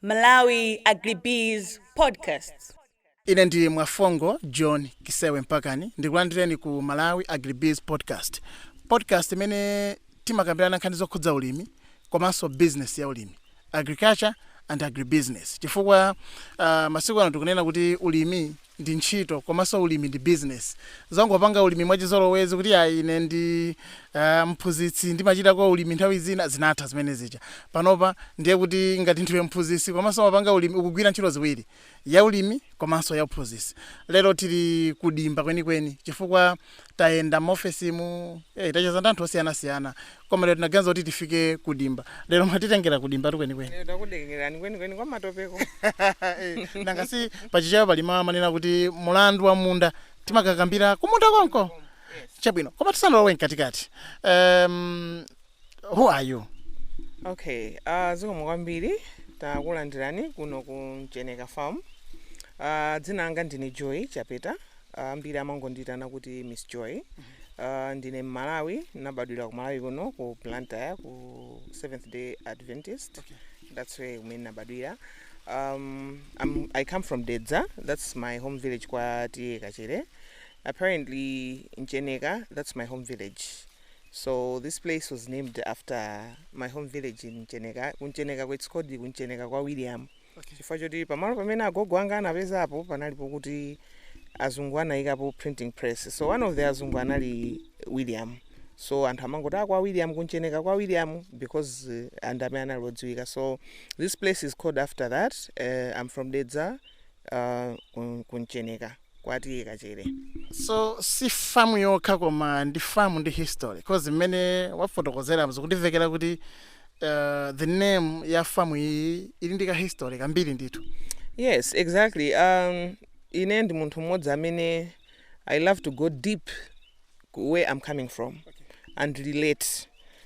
Malawi Agribiz Podcast. Ine ndi Mwafongo John Kisewe Mpakani ndikulandireni ku Malawi Agribiz Podcast, podcast imene timakambirana nkhani zokhudza ulimi komanso business ya ulimi, agriculture and agribusiness, chifukwa uh, masiku ano tikunena kuti ulimi ndi ntchito komanso ulimi ndi business zongopanga ulimi mwachizolowezi kuti ya ine ndi aah mphunzitsi ndimachitako ulimi nthawi zina zinatha zimene zija panopa ndiye kuti ngati ndiwe mphunzitsi komanso umapanga ulimi ukugwira ntchito ziwiri ya ulimi komanso ya uphunzitsi lero tili kudimba kwenikweni chifukwa tayenda m'ofesimu eh, tacheza ndi anthu osiyanasiyana koma lero tinaganiza kuti tifike ku dimba lero mwatitengera ku dimba kwenikweni Lero takudengerani kwenikweni kwa matopeko Eh, nanga si pa Chichewa pali mawu amanena kuti mlandu wa munda timakakambira kumunda konko chabwino koma tisanalowe mkatikati um, who are you okay uh, zikomo kwambiri takulandirani kuno ku mcheneka farm uh, dzina langa ndine joy chapeta ambiri uh, amangondiitana kuti miss joy uh, ndine mmalawi nabadwira ku malawi kuno ku blantyre ku seventh day adventist okay. that's where kumene nabadwira um, I'm, i come from dedza that's my home village kwa T/A Kachere apparently mcheneka that's my home village So this place was named after my home village in Mcheneka. Ku Mcheneka it's called ku Mcheneka kwa William. Okay. Chifukwa choti pamalo pamene agogo anga anapezapo panalipo kuti azungu anayikapo printing press. So one of the azungu anali William. So anthu amangoti kwa William ku Mcheneka kwa William because uh, ndi amene anali odziwika. So this place is called after that. Uh, I'm from Dedza uh, kum- ku Mcheneka. kwa T/A Kachere. So si famu yokha koma ndi famu ndi history coz mmene mwafotokozeramu zikundimvekera kuti uh, the name ya famu iyi ili ndi ka history kambiri ndithu yes exactly um, ine ndi munthu mmodzi amene i love to go deep where I'm coming from and relate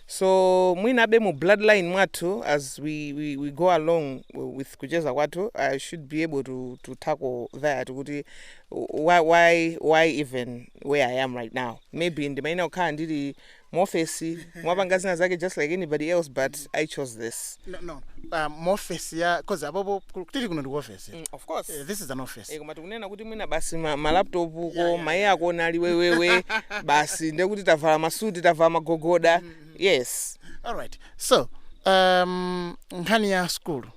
so mwinabe mu bloodline mwathu as we, we, we go along with kucheza kwathu i should be able to, to tackle that kuti why, why, why even where i am right now maybe ndimayenera kukhala ndili muofesi kumapanga zina zake just like anybody else but i chose this no, no. Uh, muofesi ya cause panopo tili kuno ndikuofesi Mm, of course. Eh, this is an office Eh, koma tikunena kuti mwina basi ma- malaptopuko ma AC akuomba ali wewewe basi ndiye kuti tavala masuti tavala magogoda yes all right so um, nkhani ya sukulu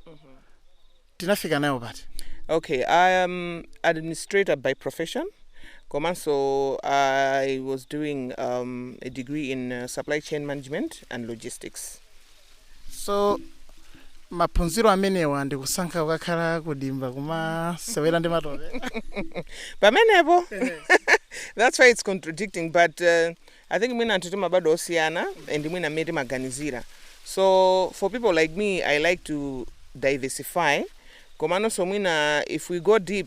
tinafika nayo pati okay i am administrator by profession komanso i was doing um, a degree in uh, supply chain management and logistics so maphunziro amenewa ndikusankha kukakhala kudimba kumasewera ndi matope pamenepo that's why it's contradicting but uh, i think mwina anthu timabadwa osiyana and mwina mmene timaganizira so for people like me i like to diversify komanso mwina if we go deep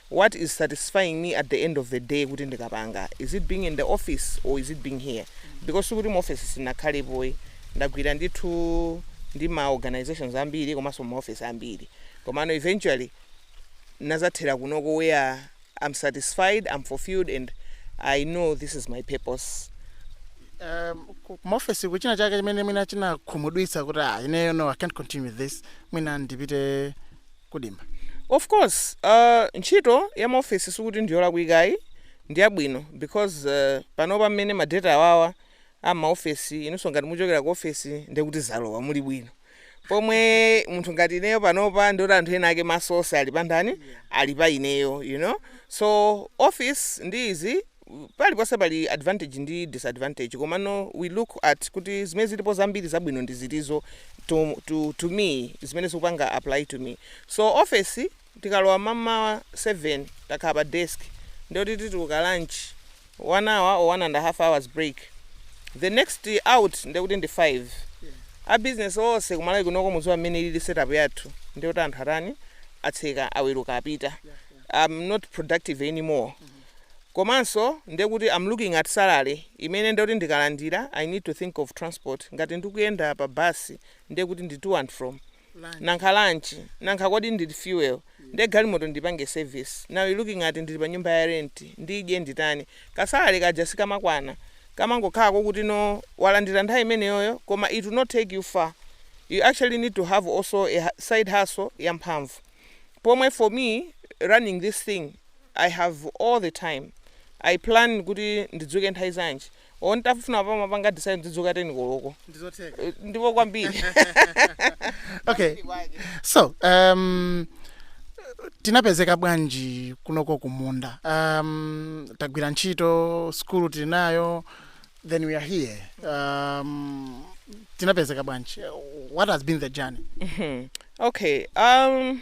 what is satisfying me at the end of the day kuti ndikapanga is it being in the office or is it being here because sikuti mu office sindinakhalepo ayi ndagwira ndithu ndi ma organisations ambiri komanso mu ma office ambiri komano eventually ndinazathera kunoko where I'm satisfied, I'm fulfilled and I know this is my purpose. um, ku- ku maofesi kuli china chake chimene mwina chinakukhumudwitsani kuti ah, ineyo no i can't continue with this mwina ndipite kudimba. Of course ntchito ya ma office sikuti ndiyolakwika ayi ndiyabwino because panopa mmene madutsa awawa a mma office inunso ngati muchokera ku office ndekuti zalowa muli bwino pomwe munthu ngati ineyo panopa ndekuti anthu ena ake maso onse ali pa ndani ali pa ineyo you know so office ndi izi paliponse pali advantage ndi disadvantage komano we look at kuti zimene zilipo zambiri zabwino ndi ziti so to, to, to me zimene zikupanga apply to me so office tikalowa mamawa 7 takhala pa desk ndiye kuti tituluka lunch one hour or one and a half hours break the next out ndekuti ndi 5 a business onse ku Malawi kunoko muziwa mmene ilili setup yathu ndiyoti anthu atani atseka aweruka apita i'm not productive anymore komanso nde kuti am looking at salary imene nde kuti ndikalandira i need to think of transport ngati ndikuyenda pa bus nde kuti ndi to and from nanga lunch nanga kodi ndi fuel nde galimoto ndiipange service now you looking at ndili pa nyumba ya rent ndidye nditani ka salary kaja sikamakwana kamangokhala koti walandira nthawi imeneyoyo koma it will not take you far you actually need to have also a side hustle ya mphamvu pomwe for me running this thing I have all the time. I plan kuti ndidzuke nthawi zanji. Olo ntafuna mmawa kupanga decide ndidzuka 10 koloko. Ndizotheka. Eh, Ndipo kwambiri. Okay. So, um, tinapezeka bwanji kunoko kumunda. Um, tagwira ntchito, skulu tili nayo, then we are here. Um, tinapezeka bwanji. What has been the journey? Okay. Um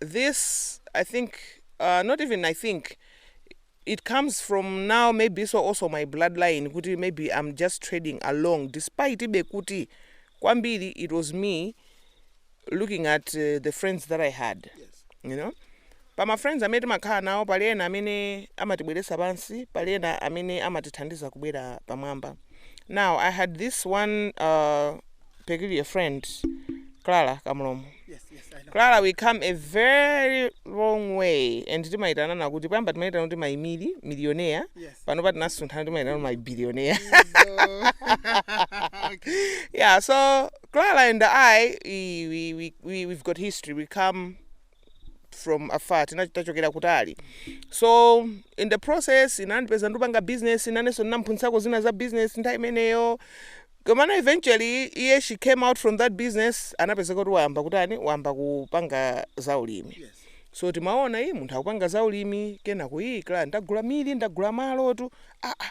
this i think uh, not even i think it comes from now maybe it was also my bloodline kuti maybe i'm just trading along despite ibe kuti kwambiri it was me looking at uh, the friends that i had you know pa ma friends amene timakhala nawo pali ena amene amatibweretsa pansi pali ena amene amatithandiza kubwera pamwamba now i had this one uh, peculiar friend, Clara Kamlomo. Yes, yes, I know. Clara, we come a very long way and timaitanana kuti pamba timaitana kuti my mili millionaire Yes. pano pa tinasunthana timaitana kuti my billionaire yeah so Clara and I we, we, we, we we've got history we come from afar tinachokera kutali so in the process anandipeza ndikupanga business nanenso ndinamphunzitsako zina za business nthawi imeneyo komano eventually iye she came out from that business anapezeka kuti wayamba kutani wayamba kupanga za ulimi yes. so timaona iyi munthu akupanga za ulimi kenako iye Clara ndagula mili ndagula malotu aa ah, ah.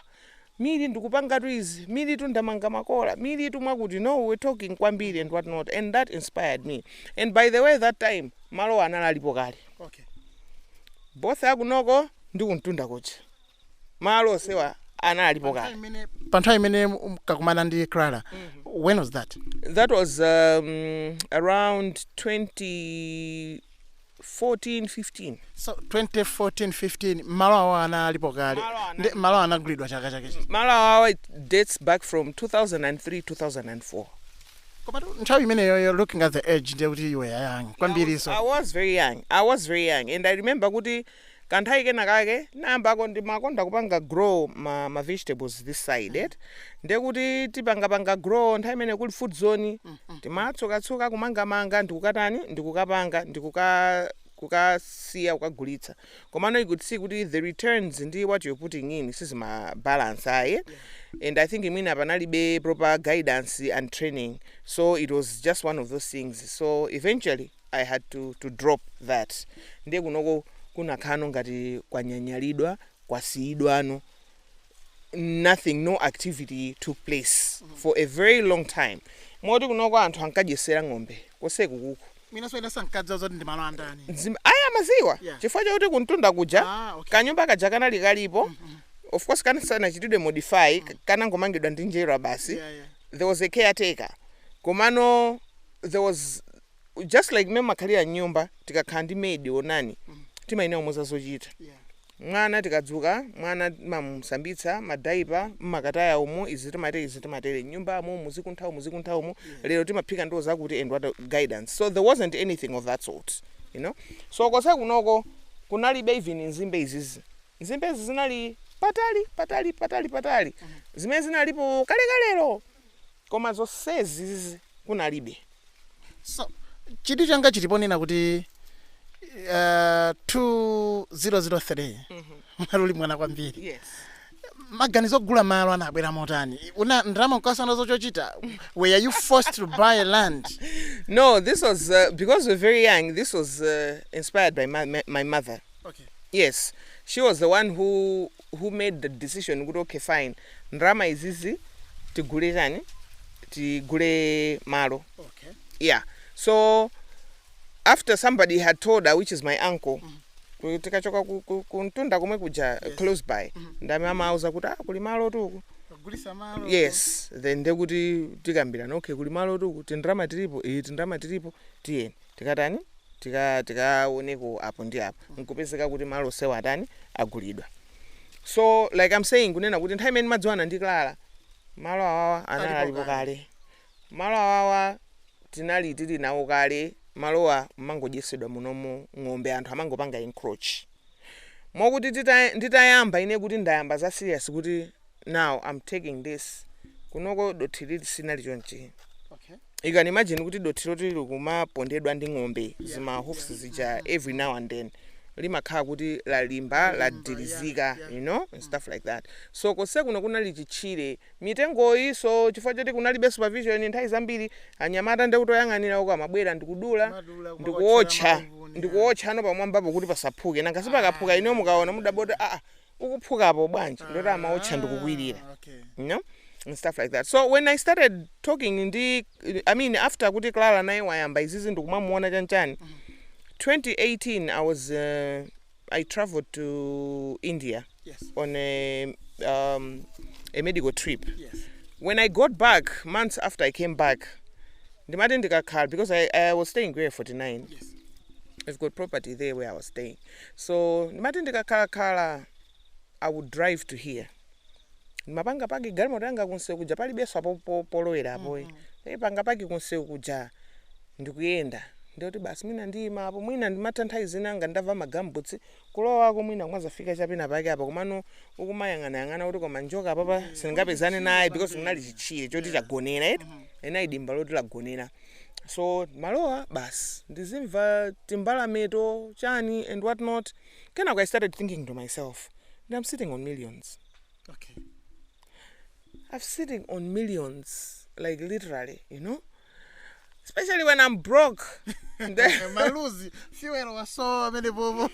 Milli ndikupangatu izi, millitu ndamanga makola, millitu mwakuti, no, we were talking kwambiri and what not and that inspired me and by the way that time malowa anali alipo kale Okay. both akunoko ndi kumtunda kuja malo onsewa anali alipo kale Pa nthawi imene munkakumana ndi Clara, when was that? that was um, around 20 14 15. So 2014 15 malo awa anali alipo kale Malo ana- ndi malo anagulidwa chaka chake chino. malo awawa it dates back from 2003 2004 Koma tu- nthawi imeneyoyo looking at the age ndiye kuti you were young kwambiri I so. was very young. I was very young. And I remember kuti kanthawi kena kake ndinayambako ndimakonda kupanga grow ma, ma vegetables this side et ndiye kuti tipangapanga grow nthawi imene kuli food zone timatsukatsuka kumangamanga ndikukatani ndikukapanga ndikuka kukasiya kukagulitsa komano you could see kuti the returns ndi what you're putting in sizimabalance ayi and i think mwina panalibe proper guidance and training so it was just one of those things so eventually I had to to drop that ndiye kunoko kunakhalano ngati kwanyanyalidwa kwasiyidwano nothing no activity took place for a very long time moti kunoko anthu ankadyetsera ng'ombe koseku kuku Mwinanso ena sankadziwa zoti ndi malo andani. Zim- ayi amadziwa Yeah. chifukwa chakuti kumtunda kuja Ah, okay. kanyumba kaja kanali kalipo of course kana sanachitidwe modify k- kanangomangidwa ndi njerwa basi Yeah, yeah. there was a caretaker komano there was just like mmene timakhalira mnyumba tikakhala ndi maid onani timayenera kumuza zochita Yeah. mwana tikadzuka mwana timamusambitsa madaipa timakataya umu izi timatere izi timatere nyumba amu muzikuntha umu muzikuntha umu lero timaphika ndiwo zakuti and whatnot guidance so there wasn't anything of that sort you know so kose kunoko kunalibe even nzimbe izizi nzimbe izi zinali patali patali patali patali zimene zinalipo kalekalero koma zonsezi kunalibe so chidwi changa chili ponena kuti uh, 2003 munali muli mwana kwambiri yes maganizo ogula malo anabwera motani munali ndi ndalama nkusowa zochochita were you forced to buy land no this was uh, because we're very young this was uh, inspired by my, my, my mother okay. yes she was the one who who made the decision kuti okay fine ndalama izizi tigule chani tigule malo okay. yeah so after somebody had told her which is my uncle mm -hmm. tikachoka ku, ku, ku mtunda komwe kuja yes. close by mm -hmm. nde amene anauza kuti ah, kuli malo tuku yes then ndekuti tikambirana okay kuli malo tuku tindalama tilipo iyi eh, tindalama tilipo tiyeni tikatani tika tikaoneko apo ndi apo nkupezeka kuti malo osewa atani agulidwa so like I'm saying kunena kuti nthawi imene ndimadziwana ndi Clara malo awawa anali Alipo alipo kale. kale malo awawa tinali tili nawo kale malowa mmangodyetsedwa munomo ng'ombe anthu amangopanga encroach mokuti tita- nditayamba ine kuti ndayamba za serious kuti now I'm taking this kunoko dothi lili sinali chonchi Okay. you can imagine kuti dothi loti likumapondedwa ndi ng'ombe zima hoofs zija every now and then limakhala kuti lalimba ladirizika you know and stuff like that so kose kuno kunali chitchire mitengoyi so chifukwa choti kunalibe supervision nthawi zambiri anyamata ndi kuti oyang'anira uko amabwera ndikudula Madula, ndikuwotcha kumaotchera mauvuni, ndikuwotcha ano pamwambapo kuti pasaphuke nanga sipakaphuka inu mukaona mudabwa kuti aa pakuphukapo bwanji nde kuti amaotcha ndikukwirira Ah, okay. you know and stuff like that so when i started talking ndi i mean after kuti clara naye wayamba izizi ndikumamuona chanchani 2018 i was uh, i traveled to india Yes. on a, um, a medical trip Yes. when i got back months after i came back ndimati ndikakhala because I, i was staying ku area 49 Yes. i've got property there where i was staying So ndimati ndikakhala khala I would drive to here. Ndimapanga paki galimoto yanga kunsewu kuja palibenso apo po- polowera apoyi. Ndipanga paki kunsewu kuja ndikuyenda. Nde kuti basi mwina ndiyima apo mwina ndimatha nthawi zina ngati ndavala magambutsi kulowako mwina kumazafika chapena pake apa komano ukumayang'anayang'ana kuti koma njoka apapa sindingapezane naye because kunali chitchire choti chagonera eti. Linali dimba loti lagonera. so malowa basi ndizimva timbalameto chani and what not kenako i started thinking to myself and i'm sitting on millions okay. i'm sitting on millions like literally you know especially when i'm broke Then- maluzi fuel wasowa amene popo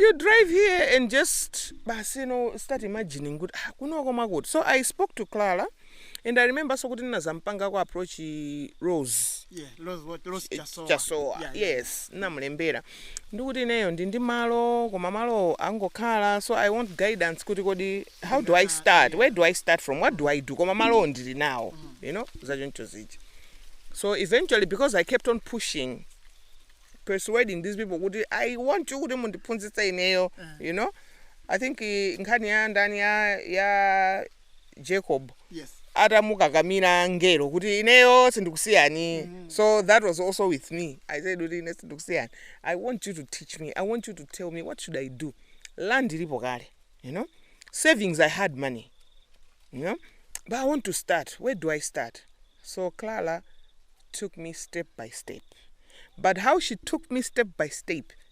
you drive here and just basi you know start imagining kuti ah, kunoko makuti so i spoke to clara and i remembernso kuti ndinazampangako approach rose yeah rose what rose chisowa chisowa yeah, yeah. yes namulembera ndikuti ineyo ndili ndi malo koma malowo angokhala so i want guidance kuti kodi how do i start where do i start from what do i do koma malowo ndili nawo you know zachoncho zija so eventually because i kept on pushing persuading these people kuti i want you kuti mundiphunzitse ineyo you know i think eh, nkhani ya ndani ya ya Jacob Yes. atamukakamira ngelo kuti ineyo sindikusiyani so that was also with me i said kuti ine sindikusiyani i want you to teach me i want you to tell me what should i do land ilipo kale you know savings i had money you know but i want to start where do i start so clara took me step by step but how she took me step by step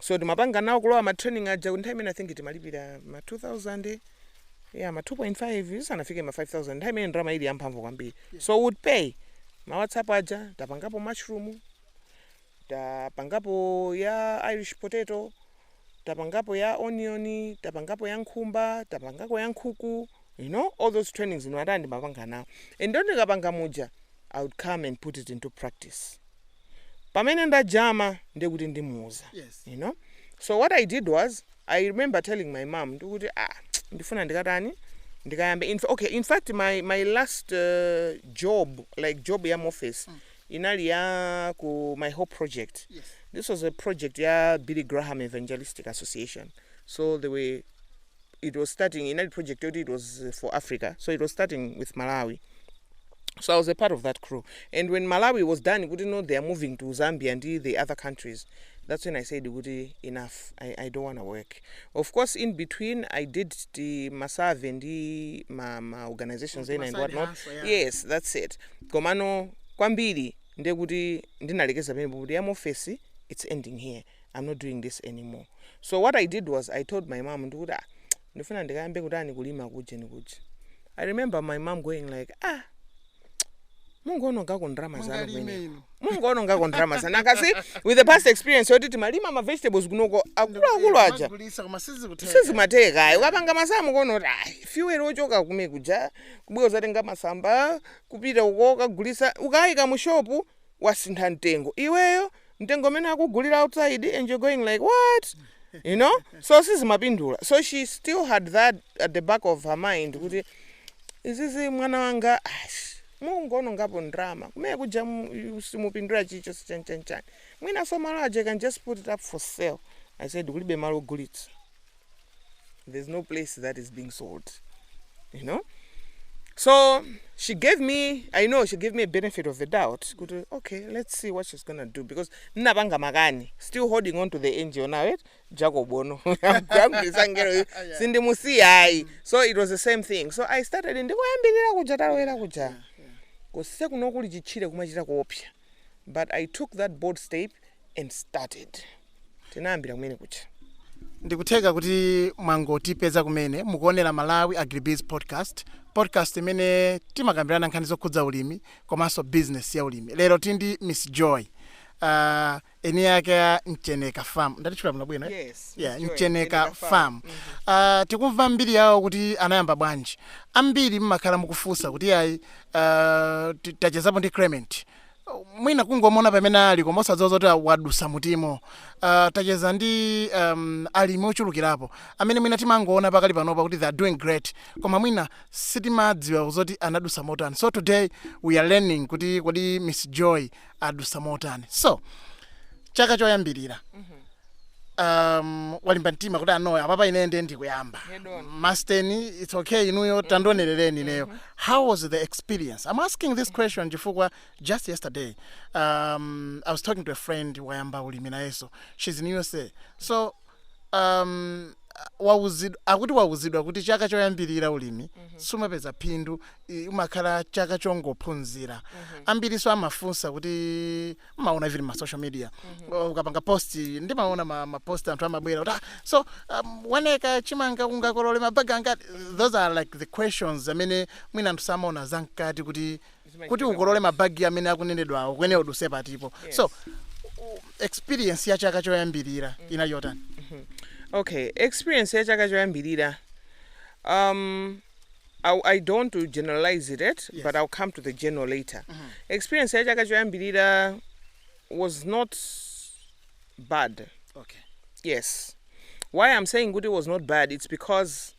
so ndimapanga nawo kulowa ma training aja nthawi imene i think timalipira ma 2000 ya ma 2.5 sanafike ma 5000 nthawi imene ndrama ili yamphamvu kwambiri so would pay ma whatsapp aja tapangapo mushroom tapangapo ya irish potato tapangapo ya onion tapangapo ya nkhumba tapangako ya nkhuku you know all those trainings ino atani ndimapanga nawo and ndiye ndikapanga muja i would come and put it into practice pamene ndajama ndiye kuti ndimuuza Yes. you know so what i did was i remember telling my mom ndekuti ah ndifuna ndikatani ndikayambe in, okay in fact my, my last uh, job like job ya office inali ya ku my hope project Yes. this was a project ya billy graham evangelistic association so they were it was starting inali project yoti it was uh, for africa so it was starting with malawi so i was a part of that crew and when malawi was done kuti no they are moving to zambia ndi the other countries that's when i said kuti enough i, I don't want to work of course in between i did the masave ndi ma, ma organizations ena and Masave whatnot hustle, yeah. yes that's it komano kwambiri ndekuti ndinalekeza pamene kuti yam office it's ending here am not doing this anymore so what i did was i told my mom ndekuti ah ndifuna ndikayambe kutani kulima kujeni kuja i remember my mom going like ah mungoonongako ndrama zanu Mungalime kumene inu. mungoonongako ndrama zanu because with the past experience yoti timalima ma vegetables kunoko akuluakulu aja Kumagulisa koma sizikutheka. sizimatheka ayi ukapanga masamu kuona kuti ayi fuel ochoka kume kuja kubwera uzatenga masamba kupita uko ukagulisa ukayika mu shopu wasintha mtengo iweyo mtengo umene akugulira outside and you're going like what you know so sizimapindula so she still had that at the back of her mind kuti izizi mwana wanga ash, mungonongapo ndrama kumene kuja mu- yu- simupindula chilichonse chanichani mwinaso malo aja you can just put it up for sale i said kulibe malo ogulitsa there's no place that is being sold you know so she gave me i know she gave me a benefit of the doubt kuti okay let's see what she's gonna do because ndinapanga makani still holding on to the ngo now right jacob ono yamgwirisa ngeroyo sindimusiya ayi so it was the same thing so i started ndikoyambirira kuja talowera kuja kose kuno kuli chitchire kumachita kuopsa but i took that bold step and started tinayambira kumene kuja ndikutheka kuti mwangotipeza kumene mukuonera malawi agribiz podcast podcast imene timakambirana nkhani zokhudza ulimi komanso business ya ulimi lero tindi miss joy uh, eni ake a mcheneka farm ndatchula bwino bwino eh? Yes, yeah, mcheneka Mcheneka farm Farm. uh, tikumva mbiri yawo kuti anayamba bwanji ambiri mmakhala mukufunsa kuti ayi uh, ti- tachezapo ndi clement Uh, mwina kungomona pamene ali koma osadziwa zoti a- wadutsa mutimo uh, tacheza ndi um, alimi ochulukirapo amene mwina timangoona pakadali panopa kuti they are doing great koma mwina sitimadziwa zoti anadutsa motani so today we are learning kuti kodi miss joy adutsa motani so chaka choyambirira um, walimba mtima kuti ah no apapa ine ndiye ndikuyamba masteni it's okay inuyo tandionerereni ineyo how was the experience i'm asking this question chifukwa just yesterday um, i was talking to a friend wayamba ulimi nayeso she's in usa so um, wauzidwa, akuti wauzidwa kuti chaka choyambirira ulimi sumapeza phindu i- umakhala chaka chongophunzira ambiriso amafunsa kuti maona even ma social media O, ukapanga post ndimaona ma, ma post anthu amabwera kuti "Ah, so um, waneka chimanga ungakolole mabagi angati those are like the questions amene mwina anthu samaona zamkati kuti kuti ukolole mabagi amene akunenedwawo kuyenera uduse patipo so u- experience ya chaka choyambirira inayenda bwanji okay experience ya chaka choyambirira um I, I don't want to generalize it yet, Yes. but I'll come to the general later. Experience ya chaka choyambirira was not bad. okay. Yes. Why I'm saying good it was not bad, it's because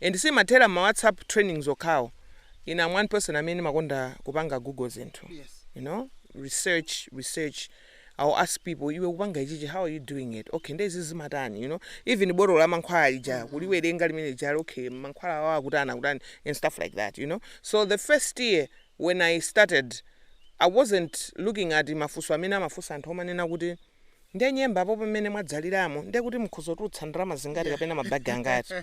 And sindimathera mma whatsapp trainings okhawo, ine am one person amene ndimakonda kupanga google zinthu you know research research, I will ask people iwe ukupanga ichichi how are you doing it, okay nde izizi zimatani you know even botolo la mankhwala lija kuliwerenga limene lijali okay mankhwala awawa akutani akutani and stuff like that you know. So the first year when I started I wasn't looking at mafunso amene amafunsa anthu omanena kuti. nde nyemba apo pamene mwadzaliramo nde kuti mukhoza kutulutsa ndalama zingati kapena ma bag angati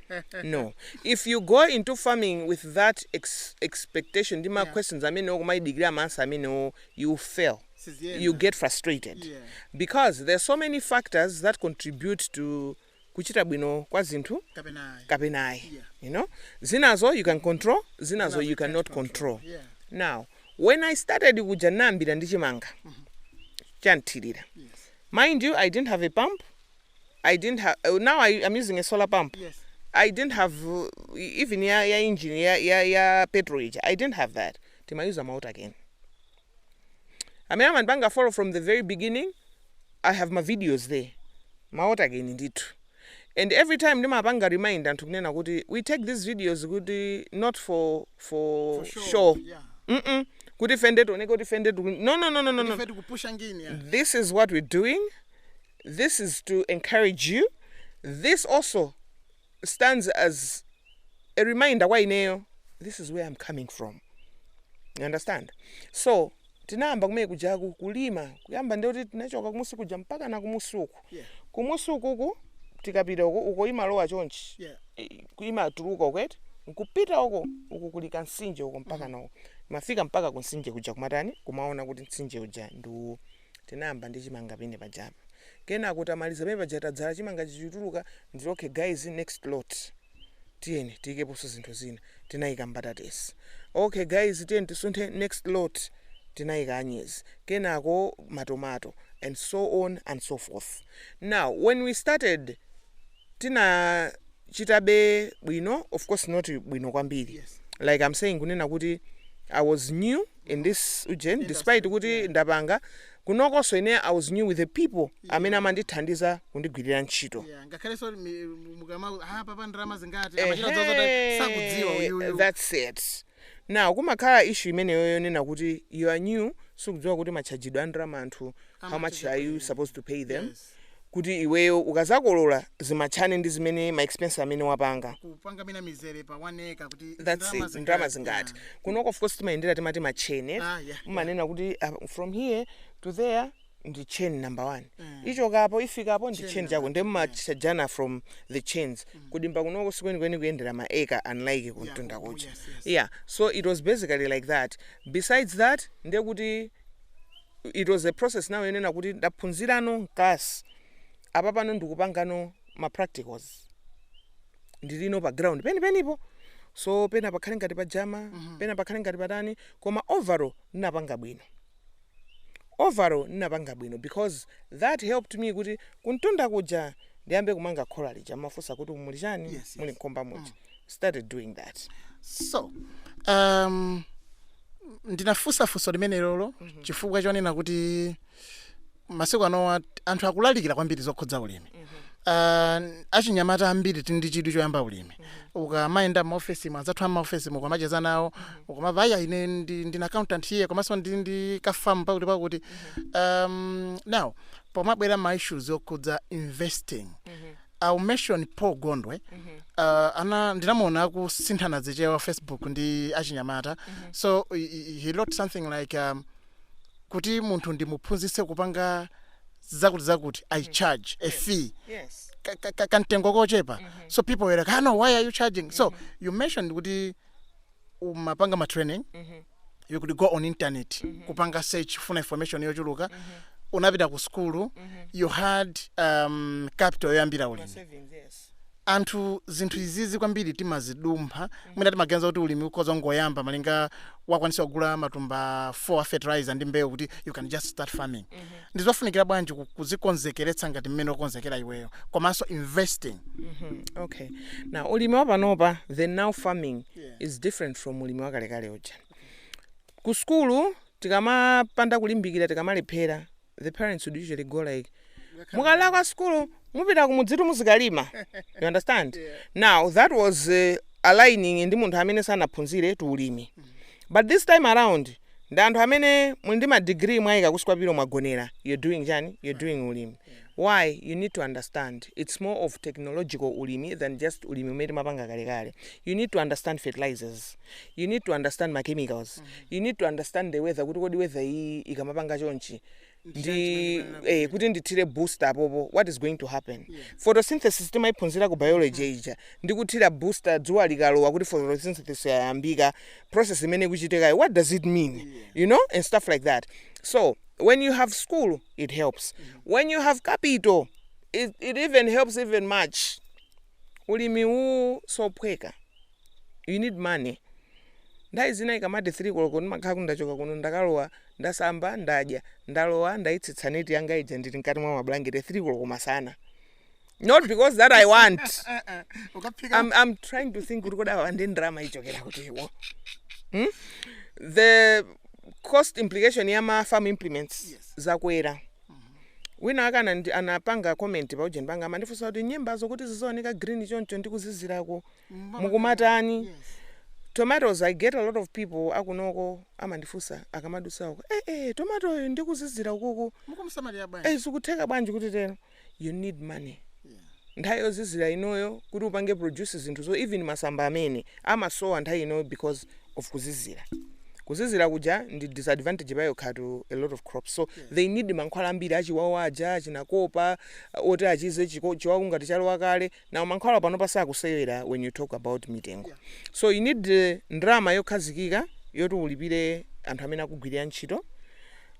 no if you go into farming with that ex expectation ndi ma questions amenewo kumayidikira ma answer amenewo you will fail you get frustrated because there are so many factors that contribute to kuchita bwino kwa zinthu kapena ayi you know zinazo you can control zinazo you can not control now when i started kuja ndinayambira ndi chimanga chanthirira mind you i didn't have a pump i didn't have now I, i'm using a solar pump i didn't have uh, even ya, ya engine ya, ya, ya petrol ija i didn't have that timayuza ma water cane amene amandipanga follow from the very beginning i have ma videos there ma waterkeni ndithu and every time ndimapanga remind anthu kunena kuti we take these videos kuti not for for show yeah. mm kuti fende tioneke kuti fende tiku- no no no no no, no. Ife tikupusha ngini ya. this is what we're doing this is to encourage you this also stands as a reminder kwa ineyo this is where am coming from you understand so tinayamba kumene kujaku kulima kuyamba nde kuti tinachoka kumusi kuja mpaka na kumusi uku Yeah. kumusi ukuku tikapita uko uko imalowa chonchi Yeah. I- imatuluka uko eti nkupita uko uku kuli kansinje uko mpaka nawo mafika mpaka kunsinje kuja kumatani kumaona kuti nsinje uja ndiwo Tinayamba ndi chimanga pene pajapo. Kenako tamaliza pene paja tadzala chimanga chija chikutuluka ndikuti okay guys next lot tiyeni tiyikeponso zinthu zina. Tinayika mbatatesi. Okay guys tiyeni tisunthe next lot tinayika anyezi. Kenako matomato and so on and so forth. Now when we started. tinachitabe bwino of course not bwino kwambiri Yes. like i'm saying kunena kuti i was new in this ujeni despite kuti ndapanga kunokonso ine i was new with the people amene amandithandiza kundigwirira ntchito Yeah, ngakhalenso mi- mukama ah papa ndalama zingati Ehe, amachita zozota sakudziwa uyuyu that's it now kumakhala issue imeneyo yonena kuti you are new sukudziwa kuti matchajidwe a ndalama anthu how much are you supposed to pay them Yes. kuti iweyo ukazakolola zimatchane ndi zimene ma expense amene wapanga. kupanga mwina mizere pa 1 acre kuti That's ndalama it. Ndalama zingati? zingati? Yeah. Kunoko of course timayendera timati ma chain. eh? Ah, yeah, Mumanena kuti ah, from here to there ndi chain number one. Ichokapo ifikapo ndi chain chako. Ndiye mumatchajana from the chains. Kudimba kunoko sikwenikweni kuyendera ma acre unlike kumtunda ku- kucha. yes, yes. Yeah. So it was basically like that. Besides that, ndiye kuti it was a process now yonena kuti ndaphunzirano m'class apapano ndikupangano ma practicals ndilino pa ground penipenipo so pena pakhale ngati pajama pena pakhale ngati patani koma overall ndinapanga bwino overall ndinapanga bwino because that helped me kuti kumtunda kuja ndiyambe kumanga khola lija mumafunsa kuti muli chani Yes, yes. muli nkhumba muja started doing that so um, ndinafunsa funso limenelolo chifukwa chonena kuti masiku ano anthu akulalikira kwambiri zokhudza ulimi Uh, achinyamata ambiri tili ndi chidwi choyamba ulimi ukamayenda m'maofesi mwa anzathu a m'maofesimu ukamacheza nawo ukamamva aya ine ndi- ndine accountant here komanso ndi ndi kafamu pakuti pakuti um, now pomabwera ma issues yokhudza investing I'll mention Paul Gondwe. Uh, ana ndinamuona akusinthana zichewa Facebook ndi achinyamata. So he- he he wrote something like um, kuti munthu ndimuphunzitse kupanga zakuti zakuti I charge a fee. Yes. ka- ka- ka- kamtengo kochepa so people were like ah, no why are you charging so you mentioned kuti umapanga ma training you could go on internet kupanga search for information yochuluka unapita ku sukulu you had um, capital yoyambira ulimi savings yes anthu zinthu izizi kwambiri timazidumpha mwina timaganiza kuti ulimi ukhoza ungoyamba malinga wakwanitsa kugula matumba 4 a fertilizer ndi mbewu kuti you can just start farming ndizofunikira bwanji ku- kuzikonzekeretsa ngati mmene unakonzekera iweyo komanso investing okay now ulimi wa panopa the now farming Yeah. is different from ulimi wakalekale uja ku skulu tikamapanda kulimbikira tikamalephera the parents would usually go like mukalephera ku skulu mupita kumudzitu muzikalima you understand now that was uh, aligning ndi munthu amene sanaphunzire to ulimi but this time around ndi anthu amene muli ndi ma degree mwaika kunsi kwa pillow mwagonera you're doing chani you're doing ulimi why you need to understand it's more of technological ulimi than just ulimi umene timapanga kalekale you need to understand fertilizers you need to understand ma chemicals you need to understand the weather kuti kodi weather iyi ikamapanga chonchi ndi eh, kuti ndithire booster apopo what is going to happen photosynthesis timayiphunzira ku biology ija ndi kuthira booster dzuwa likalowa kuti photosynthesis yayambika process imene ikuchitikayo what does it mean you know and stuff like that so when you have school it helps when you have capital it, it even helps even much ulimi uwu sophweka you need money nthawi zina ikamati 3 koloko ndimakhala kuti ndachoka kuno ndakalowa ndasamba ndadya ndalowa ndayitsitsa neti yanga ija ndili mkati mwa mabulangete 3 koloko masana not because that i want I'm, I'm trying to think kuti kodi awa nde ndalama ichokera kutiwo hmm? the cost implication ya ma farm implements Yes. zakwera wina wake anandi- anapanga comment pa ujeni panga amandifunsa kuti nyembazo kuti zizioneka green choncho ndi kuzizirako mukumatani tomatoes i get a lot of people akunoko amandifunsa akamadutsa uko eh eh tomatoyo ndikuzizira ukuku mukumsamalira bwanji eh zikutheka bwanji kuti tero you need money nthawi yozizira inoyo kuti upange produce zinthu so even masamba amene amasowa nthawi inoyo because of kuzizira kuzizira kuja ndi disadvantage payokha to a lot of crops so they need mankhwala ambiri achiwawu aja achina copper oti achize chiko- chiwawu ngati chalowa kale now mankhwala panopa sakusewera when you talk about mitengo so you need eh, ndalama yokhazikika yoti ulipire anthu amene akugwirira ntchito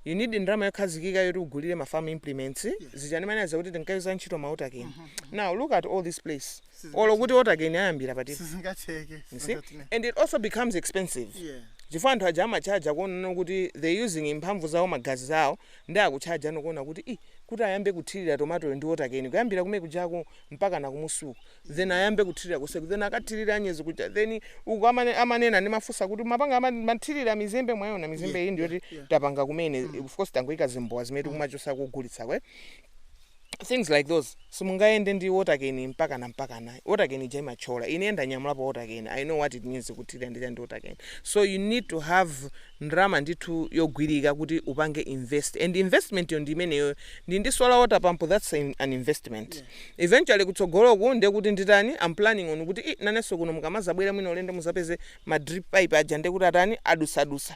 you need ndalama yokhazikika yoti ugulire ma farm implements zija ndimanena kuti tinkayuza ntchito ma water cane now look at all this place olo kuti water cane ayambira pati sizingatheke you see and it also becomes expensive yeah chifukwa anthu aja amachaja kuona kuti they using mphamvu zawo magazi zawo Nde akutchaja no kuona kuti ih kuti ayambe kuthilira tomatoyo ndi water cane kuyambira kumene kujako mpakana kumunsi uko then ayambe kuthilira konseku then akathilire anyezi kuja then uko amane amanena ndimafunsa kuti mumapanga ama mathilira mizimbe mwaiona mizimbe iyi yeah, yeah, ndiyoti yeah. tapanga kumene mm. of course tangoika zimbowa zimene mm. tikumachotsa kugulitsako eh things like those simungayende ndi watercane mpakana mpakana watercane ija imathyola ine ndanyamulapo watercane i know what it means kuthilira ndi chani ndi watercane so you need to have ndalama ndithu yogwirika kuti upange invest and investment yo ndi imeneyoyo ndi ndi solar water pump that's an an investment eventually kutsogoloku ndiye kuti nditani i'm planning on kuti ih nanenso kuno mukamazabwera mwina ulendo muzapeze ma drip pipe aja ndiye kuti atani adutsadutsa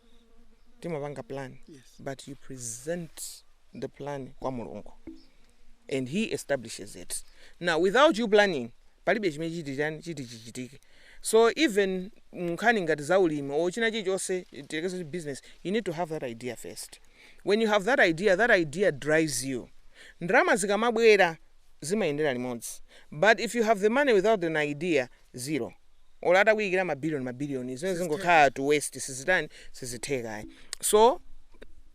timapanga plan Yes. but you present the plan kwa mulungu and he establishes it now without you planning palibe chimene chitichani chitichitike so even nkhani ngati za ulimi or china chilichonse tilekeze kuti business you need to have that idea first when you have that idea that idea drives you ndalama zikamabwera zimayendera limodzi but if you have the money without an idea zero olo atakuyikira ma billion ma billion zimenezo zingokhala to waste sizitani sizitheka ayi so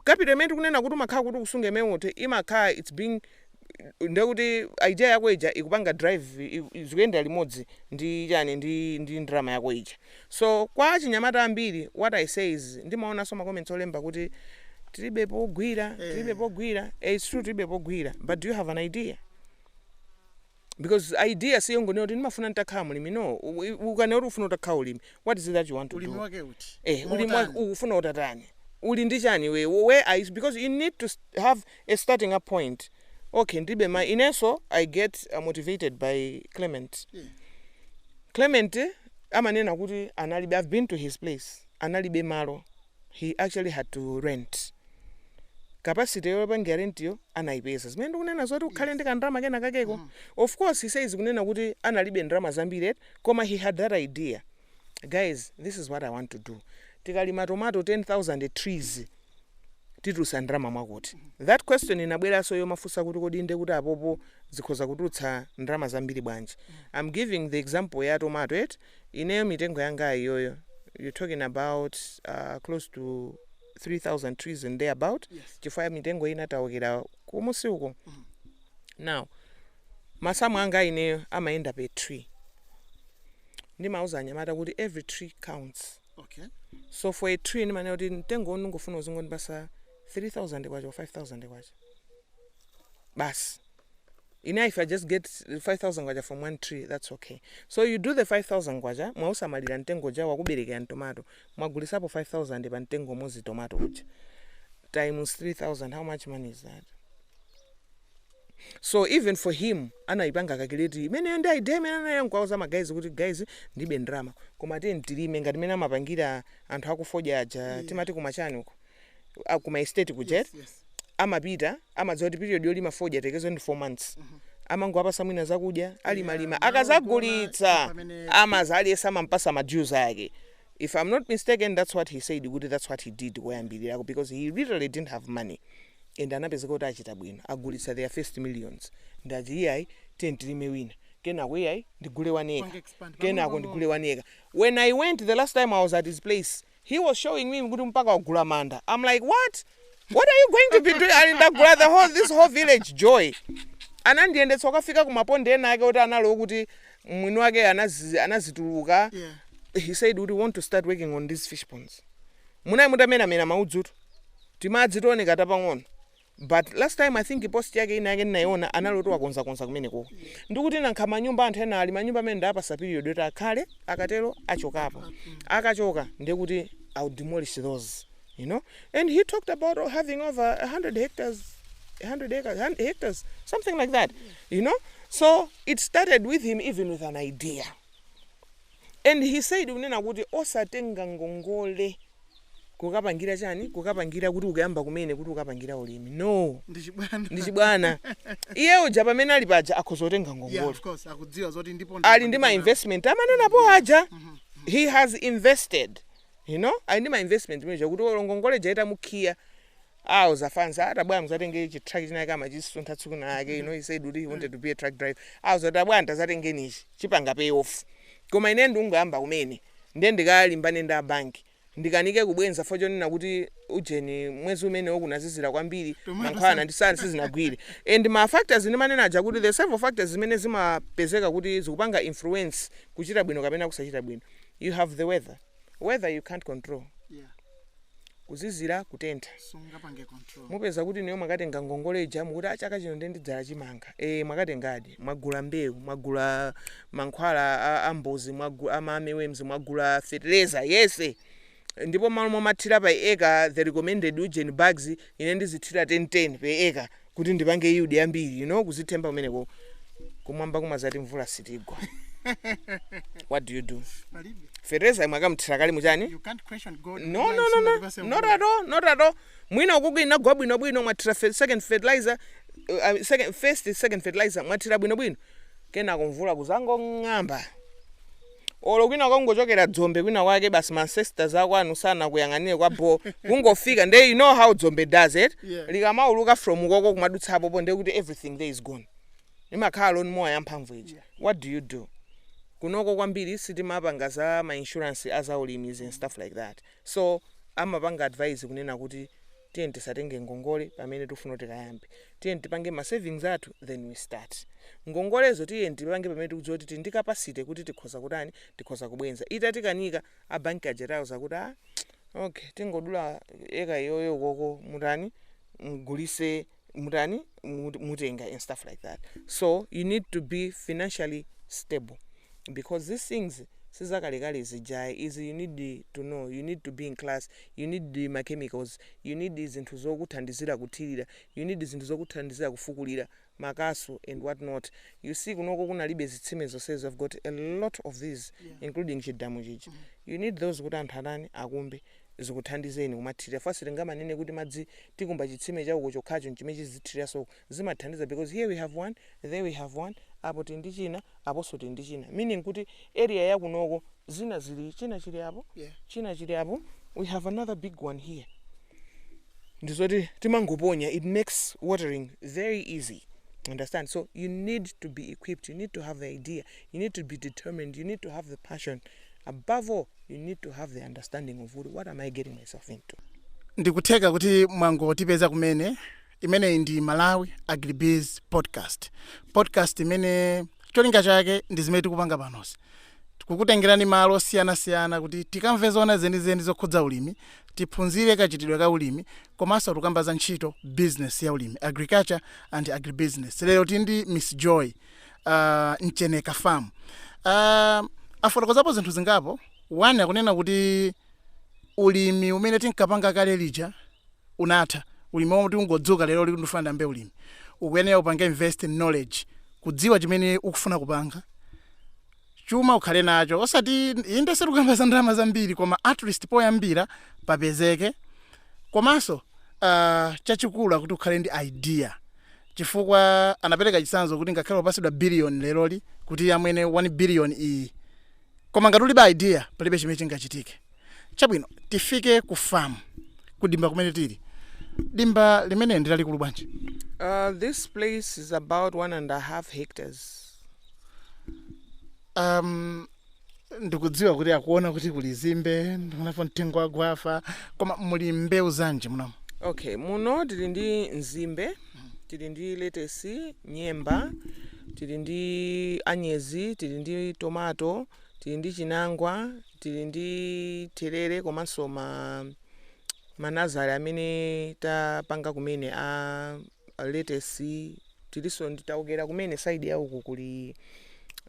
capital imene tikunena kuti umakhala kuti ukusunga mmene muti imakhala it's being ndekuti idea yako ija ikupanga drive i- i- zikuyendera limodzi ndi chani ndi ndi ndalama yako ija so kwa achinyamata ambiri what i say is ndimaonanso ma comments olemba kuti tilibe pogwira tilibe pogwira eh it's true tilibe pogwira but do you have an idea Because idea si yongonena kuti ndimafuna nditakhala mlimi no. U- i- ukanena kuti ufuna utakhala ulimi, what is it that you want to do? Ulimi wake uti? Eh, koma ulimi wake utani? Ukufuna utatani? Uli ndi chani iwe? Where are you? Because you need to s- have a starting up point. Okay, ndibe ma inenso I get uh, motivated by Clement. Yeah. Clement eh, amanena kuti analibe I've been to his place. Analibe malo. He actually had to rent. Capacity yopangira rent-yo anaipeza. Zimene ndikunena zoti ukhale ndi kandalama kena kakeko. Of course he says kunena kuti analibe ndalama zambiri eti, koma he had that idea. Guys, this is what I want to do. Tikalima tomato 10,000 trees titulutsa ndalama mwakuti. That question inabweranso yomufunsa kuti kodi ndiye kuti apopo zikhoza kutulutsa ndalama zambiri bwanji?. I'm giving the example ya tomato eti. Ineyo mitengo yanga iyoyo you're talking about close to 3000 trees and thereabout chifukwa ya mitengo inataukira kumunsi uko now masamu anga ineyo amayenda per tree ndimauza anyamata kuti every tree counts okay so for a tree ndimanena kuti mtengo uno ndingofuna uzingondipatsa 3000 kwacha or 5000 kwacha basi ine if i just get 5000 kwacha from one tree that's ok so you do the 5000 kwacha mwausamalira mtengo uja wakuberekera tomato mwagulitsapo 5000 pa mtengo umodzi tomato uja times 3000 how much money is that so even for him anayipanga calculate imeneyo ndiye idea imene anawauza ma guys kuti guys ndibe ndrama koma tiyeni tilime ngati mmene amapangira anthu akufodya aja timati kuma chani uko a- ku maestate kuja Yes, yes. amapita amadziwa kuti period yolima fodya tiyerekeze ndi 4 months amangowapatsa mwina zakudya alimalima nawo akadzagulitsa kuona pamene- amadza aliyense amampatsa ma dues ake if i'm not mistaken that's what he said kuti that's what he did koyambirirako because he literally didn't have money and anapezeka kuti achita bwino agulitsa their first millions ndati iyayi tiyeni tilime wina kenako iyayi ndigule one acre kupanga expand. kenako pang'ono ndigule one acre when i went the last time i was at his place he was showing me kuti mpaka wagula manda am like what what are you going to be doing ati ndagula the whole this whole village joy anandiyendetsa ukafika kumaponde ena ake kuti anali oti mwini wake anazi- anazituluka Yeah. he said kuti want to start working on these fish ponds munayi mutamenamena maudzutu timadzi tioneka tapang'ono But last time I think post yake ina yake ndinaiona anali oti wakonza konza kumeneko. Ndikuti nangakhale manyumba anthu ena ali manyumba amene ndawapatsa period yoti akhale akatero achokapo. Akachoka ndiye kuti I'll demolish those. You know? And he talked about oh, having over 100 hectares 100 acres, 100 hectares, something like that, you know. So it started with him, even with an idea. And he said, unena kuti osatenga ngongole kukapangira chani kukapangira kuti ukuyamba kumene kuti ukapangira ulimi no ndi chibwana ndi chibwana iye uja pamene ali paja akhoza kutenga yeah ngongole of course akudziwa zoti ndipo ali ndi ma investment amanenapo aja he has invested you know ali ndi ma investment moti kuti olo ngongole ija itamukhiya azafuna atabwera muzatenge chitraki chinake amachisuntha tsiku lina lake you know he said kuti he wanted to be a truck driver awo zatabwera nde azatenge nichi chipanga pay off koma ine ndungoyamba kumene Ndiye ndikalimbane ndi a bank ndikanike kubwenza fo chonena kuti ujeni mwezi umenewo kunazizira kwambiri mankhwala ndi zina sizinagwire and ma factors ndimanena aja kuti the several factors zimene zimapezeka kuti zikupanga influence kuchita bwino kapena kusachita bwino you have the weather, weather you can't control. kuzizira kutentha sungapange control mupeza kuti inuyo mwakatenga ngongole ija mukuti "Ah, chaka chino ndiye ndidzala chimanga ee mwakatengadi mwagula mbewu mwagula mankhwala a- a mbozi mwagu- a ma armyworms mwagula fetereza yese ndipo malo momathira pa eka the recommended ujeni bags ine ndizithira 10 10 pe eka kuti ndipange yield yambiri you know kuzithemba kumeneko kumwamba kumazati mvula sitigwa what do you do Palibe. fertilizer mwakamthira kale mutani You can't question God. no no no no not at all not at all mwina ukuku inagwa bwino bwino mwathira fe- second fertilizer uh, uh, second first second fertilizer mwathira bwino bwino kenako mvula kuzangong'amba olo kwina kungochokera dzombe kwina kwake basi ma ancestors akwanu sanakuyang'anire kwa bho kungofika nde you know how dzombe does it Yeah. likamauluka from ukoko kumadutsa apopo nde kuti everything there is gone imakhala loni mowa yamphamvu ija what do you do kunoko kwambiri sitimapanga za ma insurance azaulimizi and stuff like that So amapanga advise kunena kuti tiyeni tisatenge ngongole pamene tikufuna kuti tikayambe. Tiyeni tipange ma savings athu then we start. Ngongolezo tiyeni tipange pamene tikudziwa kuti tili ndi capacity kuti tikhoza kutani, tikhoza kubwenza. Itatikanika, a bank aja tawauza kuti ah okay tingodula acre iyoyo ukoko mutani mugulise. mutani mut- mutenga and stuff like that so you need to be financially stable because these things sizakalekale zijayi izi you need to know you need to be in class you need ma chemicals you need zinthu zokuthandizira kuthirira you need zinthu zokuthandizira kufukulira makasu and what not you see kunoko kunalibe zitsime zonsezi i've got a lot of these including chidamu chija you need those kuti anthu atani akumbe zikuthandizeni kumathirira chifukwa sitingamanene kuti madzi tikumba chitsime cha uko chokhacho nchimene chizithirira so zimathandiza because here we have one there we have one apo tili ndi china aponso tili ndi china meaning kuti area ya kunoko zina zili china chili apo Yeah. china chili apo we have another big one here ndizoti timangoponya it makes watering very easy understand so you need to be equipped you need to have the idea you need to be determined you need to have the passion Above all, you need to have the understanding of kuti what am I getting myself into. ndikutheka kuti mwangotipeza kumene imeneyi ndi malawi agribiz podcast podcast imene cholinga chake ndi zimene tikupanga panozi tikukutengerani malo osiyanasiyana kuti tikamve zoona zenizeni zokhudza ulimi tiphunzire kachitidwe ka ulimi komanso tikamba za ntchito business ya ulimi agriculture and agribusiness lero tili ndi miss joy uh, mcheneka farm uh, afotokozapo zinthu zingapo one akunena kuti ulimi umene tinkapanga kale lija unatha ulimi woti ungodzuka lero uli ndikufuna ndiyambe ulimi ukuyenera upange invest in knowledge kudziwa chimene ukufuna kupanga chuma ukhale nacho osati inde sitikukamba za ndalama zambiri koma at least poyambira papezeke komanso uh, chachikulu akuti ukhale ndi idea chifukwa anapereka chitsanzo kuti ngakhale upasidwa billion leroli kuti amwene 1 billion iyi koma ngati ulibe idea palibe chimene chingachitike chabwino tifike ku farm kudimba kumene tili dimba limene ndi lalikulu bwanji Uh, this place is about one and a half hectares. um, ndikudziwa kuti akuona kuti kuli zimbe ndikuonapo mtengo wa gwafa koma muli mbewu zanji muno okay muno tili ndi nzimbe tili ndi letesi nyemba tili ndi anyezi tili ndi tomato tili ndi chinangwa tili ndi therere komanso manazari amene tapanga kumene a letesi Tiliso ndi taokera kumene side ya uku kuli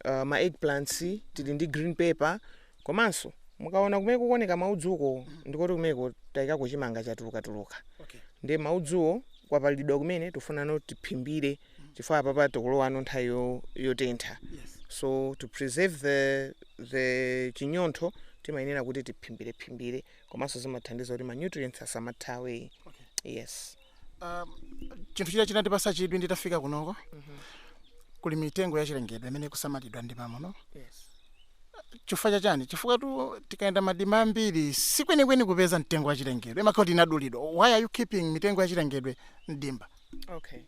uh, ma eggplants tili ndi green pepper komanso mukaona kumene kukuoneka maudzuko ndikoti kumeko tayikako chimanga chatulukatuluka Okay. ndi maudzuwo kwapalidwa kumene tikufunano tiphimbire chifukwa apapa tikulowano nthawi yo- yotentha Yes. so to preserve the, the chinyontho timayenera kuti tiphimbirephimbire komanso zimathandiza kuti ma nutrients asamathawe Okay. yes chinthu china chinandipatsa chidwi nditafika kunoko kuli mitengo yachilengedwe imene ikusamalidwa ndi mmamuno chifukwa chachani chifukwa tu tikayenda madima ambiri si kwenikweni kupeza mtengo wachilengedwe imakhala kuti inadulidwa why are you keeping mitengo yachilengedwe mdimba okay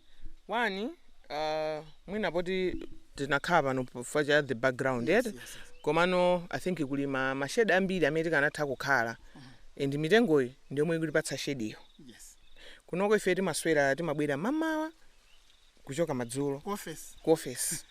one uh, mwina poti tinakhala pano chifukwa cha the background yes, yes, yes. komano i think kuli ma, ma shade ambiri amene tikanatha kukhala and mitengoyi ndiyomwe ikutipatsa shade iyo kunoko ife timaswera timabwera mamawa kuchoka madzulo ku ofesi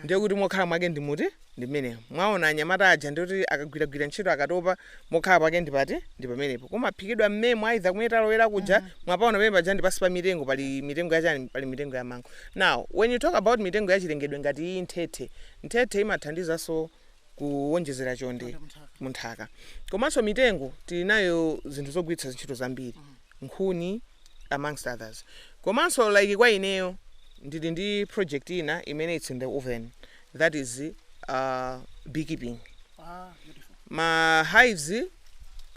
ndiye kuti mokhala mwake ndi muti ndi mmenemo mwaona anyamata aja ndikuti akagwiragwira ntchito akatopa mokhala pake ndi pati ndi pamenepo kumaphikidwa mmemo aitha kumene talowera kuja mm-hmm. mwapaona pamene paja ndi pansi pa mitengo pali mitengo yachani pali mitengo ya mango now when you talk about mitengo yachilengedwe ngati iyi nthethe nthethe imathandizanso kuwonjezera chonde mu nthaka. Komanso mitengo tili nayo zinthu zogwiritsa ntchito zambiri, nkhuni amongst others. Komanso like kwa ineyo ndili ndi project ina imene it's in the oven that is uh, beekeeping. Ma hives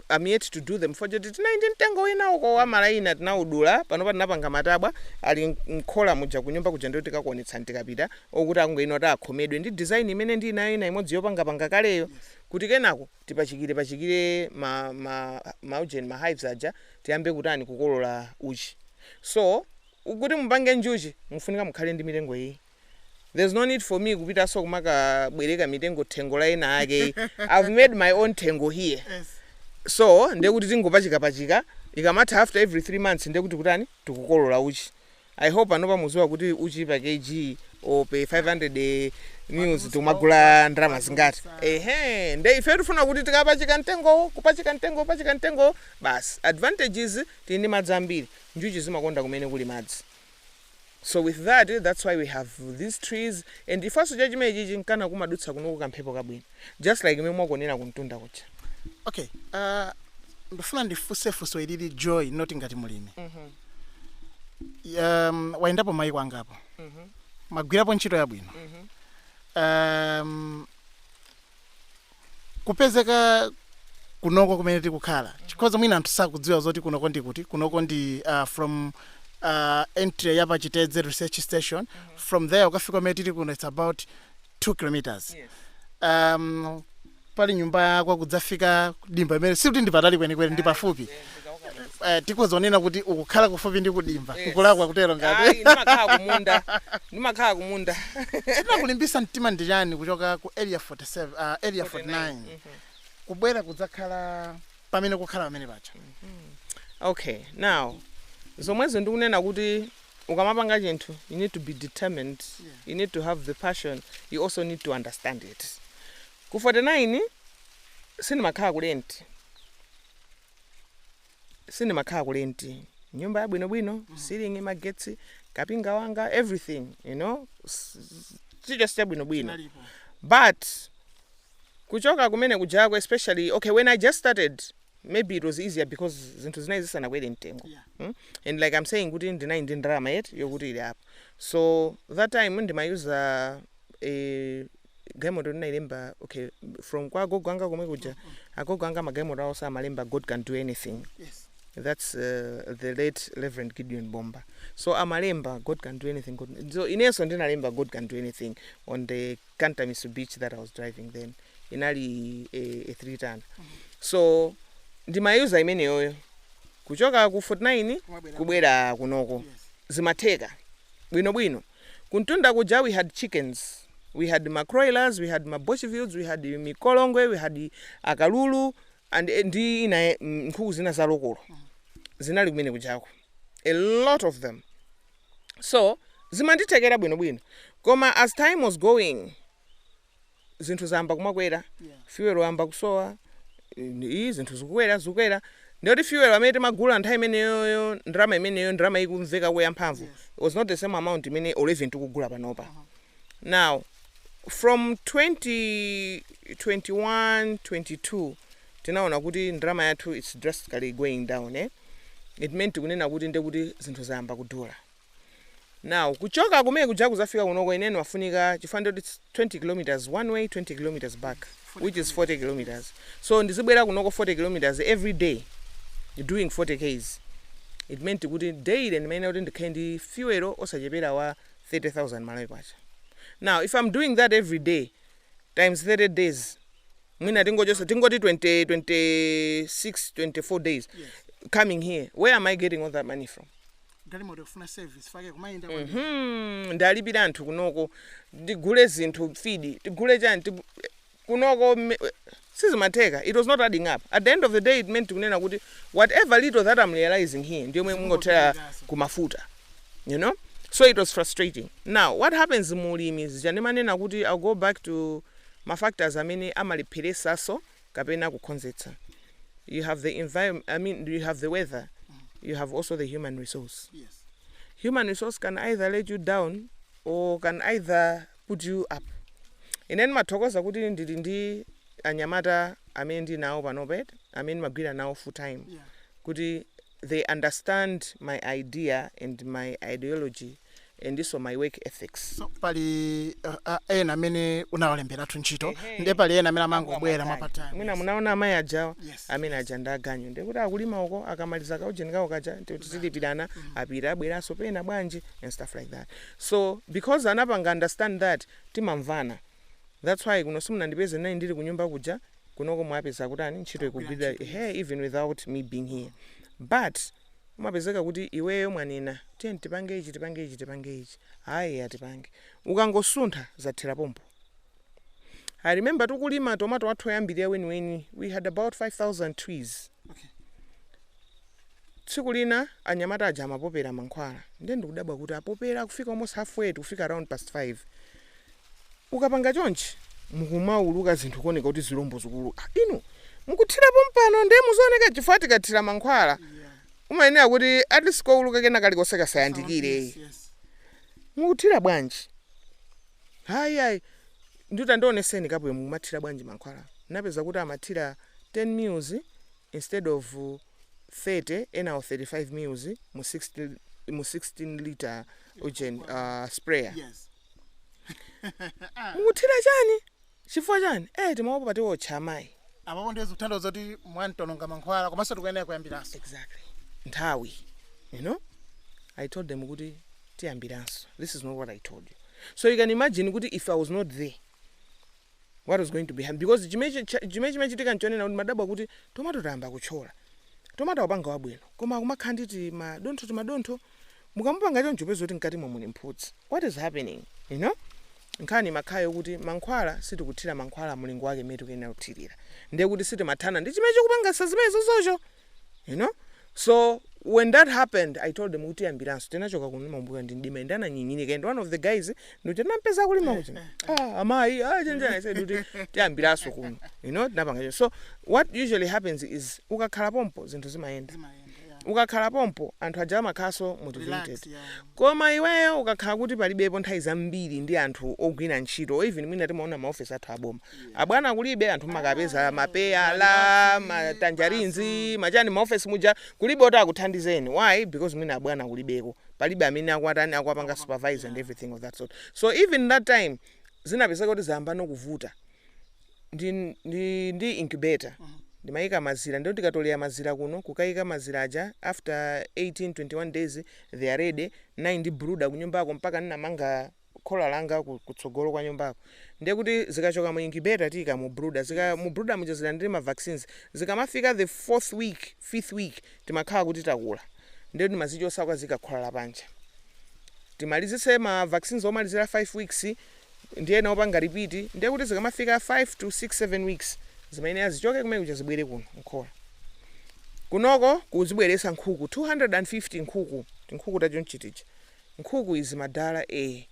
am yet to do them chifukwa choti tinali ndi mtengo wina uko wa malayina tinawudula panopa tinapanga matabwa ali m- m'khola muja kunyumba kuja ndikuti tikakuonetsani tikapita okuti akungoyenera kuti akhomedwe ndi design imene ndili nayo ina imodzi yopangapanga kaleyo kuti kenako tipachikire pachikire ma, ma, ma ujeni ma hives aja tiyambe kutani kukolola uchi so kuti mupange njuchi mufunika mukhale ndi mitengo iyi There's no need for me kupitanso kumakabwereka mitengo thengo la ena ake. I've made my own thengo here. Yes. So, ndiye kuti tingopachika pachika ikamatha after every 3 months ndiye kuti kutani tikukolola uchi. I hope panopa muziwa kuti uchi pa kg or per 500 mls tikumagula ndrama zingati. Ehe, ndiye ife tifuna kuti tikapachika mtengo, kupachika mtengo, kupachika mtengo basi. Advantage is tili ndi madzi ambiri. Njuchi zimakonda kumene kuli madzi. so with that that's why we have these trees and chifukwanso cha chimenechichi nkana kumadutsa kunoko kamphepo kabwino just like imene mwakuonera kumtunda kuja okay uh, ndifuna ndifunse funso ilili joy not ngati mulimi um, wayendapo mayiko angapo wagwirapo ntchito yabwino um, kupezeka kunoko kumene tikukhala chikhoza mwina anthu sakudziwa zoti kunoko ndi kuti kunoko ndi uh, from uh, entry ya pachitedze research station from there ukafika kumene tili kuno its about 2 kilometers um, pali nyumba yako kudzafika dimba imene sikuti ndi patali kwenikweni ndi pafupi eh, tikhoza kunena kuti ukukhala kufupi ndi kudimba Yes. ukulakwa kutero Ayi, ngati ndimakhala kumunda ndimakhala kumunda chinakulimbitsa mtima ndi chani kuchoka ku area 47 uh, area 49 kubwera kudzakhala pamene kukhala pamene pacha okay now zomwezo ndikunena kuti ukamapanga chinthu you need to be determined you need to have the passion you also need to understand it ku 49 sindimakhala ku rent sindimakhala ku rent nyumba yabwinobwino ceiling magetsi kapinga wanga everything you know s- s- chilichonse chabwinobwino Nalipo. but kuchoka kumene kujako especially okay when i just started maybe it was easier because zinthu zinali zisanakwere mtengo Yeah. mm? and like i'm saying kuti ndinali ndi ndalama yet yokuti ili apo so that time ndimayuza a galimoto ndinailemba okay from kwa agogo anga komwe kuja agogo anga magalimoto awo amalemba god can do anything yes that's uh, the late reverend gideon bomba so amalemba god can do anything god... so inenso ndinalemba god can do anything on the canter mitsubishi that i was driving then inali a, a three ton so ndimayuza imeneyoyo kuchoka ku 49 Kumabwera. kubwera kunoko yes zimatheka bwinobwino Kumtunda kuja we had chickens, we had ma kuroilers, we had ma boschvelds, we had mikolongwe, we had akalulu and ndi ina e- mm, nkhuku zina za lokolo zinali kumene kujako a lot of them so zimandithekera bwinobwino koma as time was going zinthu zayamba kumakwera Yeah. fuel wayamba kusowa eh, iyi zinthu zikukwera zikukwera ndiye kuti fuel amene timagula nthawi imeneyoyo ndalama imeneyo ndalama ikumveka kuya mphamvu Yes. it was not the same amount imene even tikugula panopa Uh-huh. now from 2021 22 tinaona kuti ndalama yathu its drastically going down eh? it meant kunena kuti ndiye kuti zinthu zayamba kudula now kuchoka kumene kuja kudzafika kunoko ineni wafunika chifukwa ndi 20 kilometers one way 20 kilometers back which is 40 kilometers so ndizibwera kunoko 40 kilometers every day doing 40 ks it meant kuti daily ndimayenera kuti ndikhale ndi fuel osachepera wa 30000 malawi kwacha now if i'm doing that every day times 30 days mwina tingochotsa tingoti 20 26 24 days coming here where am i getting all that money from galimoto kufuna service fake kumayenda mm -hmm. ndilipire anthu kunoko ndigule zinthu feed tigule chani tigu... kunoko sizimatheka it was not adding up at the end of the day it meant kunena kuti whatever little that i'm realizing here ndi yomwe imangothera kumafuta you know so it was frustrating now what happens mu ulimi zija ndimanena kuti i'll go back to mafactors amene amalepheretsa so kapena kukonzetsa you have the environm i mean you have the weather you have also the human resource yes human resource can either let you down or can either put you up ine ndimathokoza kuti ndili ndi anyamata amene ndili nawo panopa amene ndimagwira nawo full time yeah kuti they understand my idea and my ideology ndinso my work ethics. So, pali uh, uh, ena amene unawalembera ntchito hey, nde pali ena amene amangobwera ma part time mwina munaona amayi ajawa yes, amene aja ndi aganyu nde kuti akulima uko akamaliza kaujeni kawo kaja tilipirana mm -hmm. apita abweranso pena bwanji and stuff like that so because anapanga understand that timamvana that's why kuno simunandipeze nayi ndili kunyumba kuja kunoko mwapeza kutani ntchito ikugwirika hey even without me being here but umapezeka kuti iweyo mwanena tiyeni tipange ichi tipange ichi tipange ichi ayi tipange ukangosuntha zathera pompo i remember tikulima tomato wathu oyambirira weniweni we had about 5000 trees tsiku lina anyamata aja amapopera mankhwala ndiye ndikudabwa kuti apopera kufika almost halfway tikufika around past 5 ukapanga chonchi mukumauluka zinthu kuoneka kuti zilombo zikuuluka inu mukuthira pompano ndiye muzioneke chifukwa tikathira mankhwala umayenera kuti at least kouluka kena kalikonse kasayandikire mukuthira bwanji ayi ayi nditi tandioneseni kapo yomwe mumathira bwanji mankhwala napeza kuti amathira 10 mils instead of 30 enawo 35 mils mu 16 mu 16 litre ujeni uh, sprayer yes mukuthira chani chifukwa chani eh timaopa pati tiwotcha amayi apapo ndiye zikutanthauza zoti mwangoononga mankhwala komanso tikuyenera kuyambiranso exactly nthawi you know i told them kuti tiyambiranso this is not what i told you so you can imagine kuti if i was not there what was going to be happening because chimene chi- cha- chimene chimachitika nchonena kuti timadabwa kuti tomato tayamba kutchola tomato akupanga wabwino koma akumakhala ndi timadontho timadontho mukamupanga choncho peza kuti mkatimo muli mphutsi what is happening you know nkhani imakhala yo kuti mankhwala sitikuthira mankhwala mulingo wake mmene tikuyenera kuthirira ndiye kuti sitimathana ndi chimene chikupangasa zimenezozo you know so when that happened i told them kuti tiyambiranso tinachoka kuno mmambuyo ndi mdima ende ananyinyirika and one of the guys ndikuti nampeza kulima kuti ah amayi ah chenjera i said kuti tiyambiranso kuno you know tinapanga choncho. so what usually happens is ukakhala pompo zinthu zimayenda Zimayenda, yeah. ukakhala pompo anthu aja amakhalanso motivated Relax, yeah. koma iweyo ukakhala kuti palibepo nthawi zambiri ndi anthu ogwira ntchito or even mwina timaona maofesi athu aboma abwana kulibe anthu makapeza mapeyala matanjarinzi machani maofesi muja kulibe oti akuthandizeni why because mwina abwana kulibeko palibe amene akwatani akwapanga supervise and everything of that sort so even that time zinapezeka kuti zayambano kuvuta ndi, ndi, ndi incubator ndimayika mazira ndiye kuti tikatolera mazira kuno kukayika mazira aja after 18 21 days they are ready ndiye ndi brooder kunyumbako mpaka ndinamanga khola langa ku, kutsogolo kwa nyumbako ndiye kuti zikachoka mu incubator tiika mu brooder zika mu brooder muja zilandire ma vaccines zikamafika the fourth week fifth week timakhala kuti takula ndiye timazichotsa kukazika khola la panja timalizitse ma vaccines omalizira 5 weeks ndi ena opanga repeat ndiye kuti zikamafika 5 to 6 7 weeks zimayenera zichoke kumene kuja zibwere kuno mkhola kunoko kuzibweretsa nkhuku 250 nkhuku tinkhuku ta chonchitichi nkhuku izi madala ee.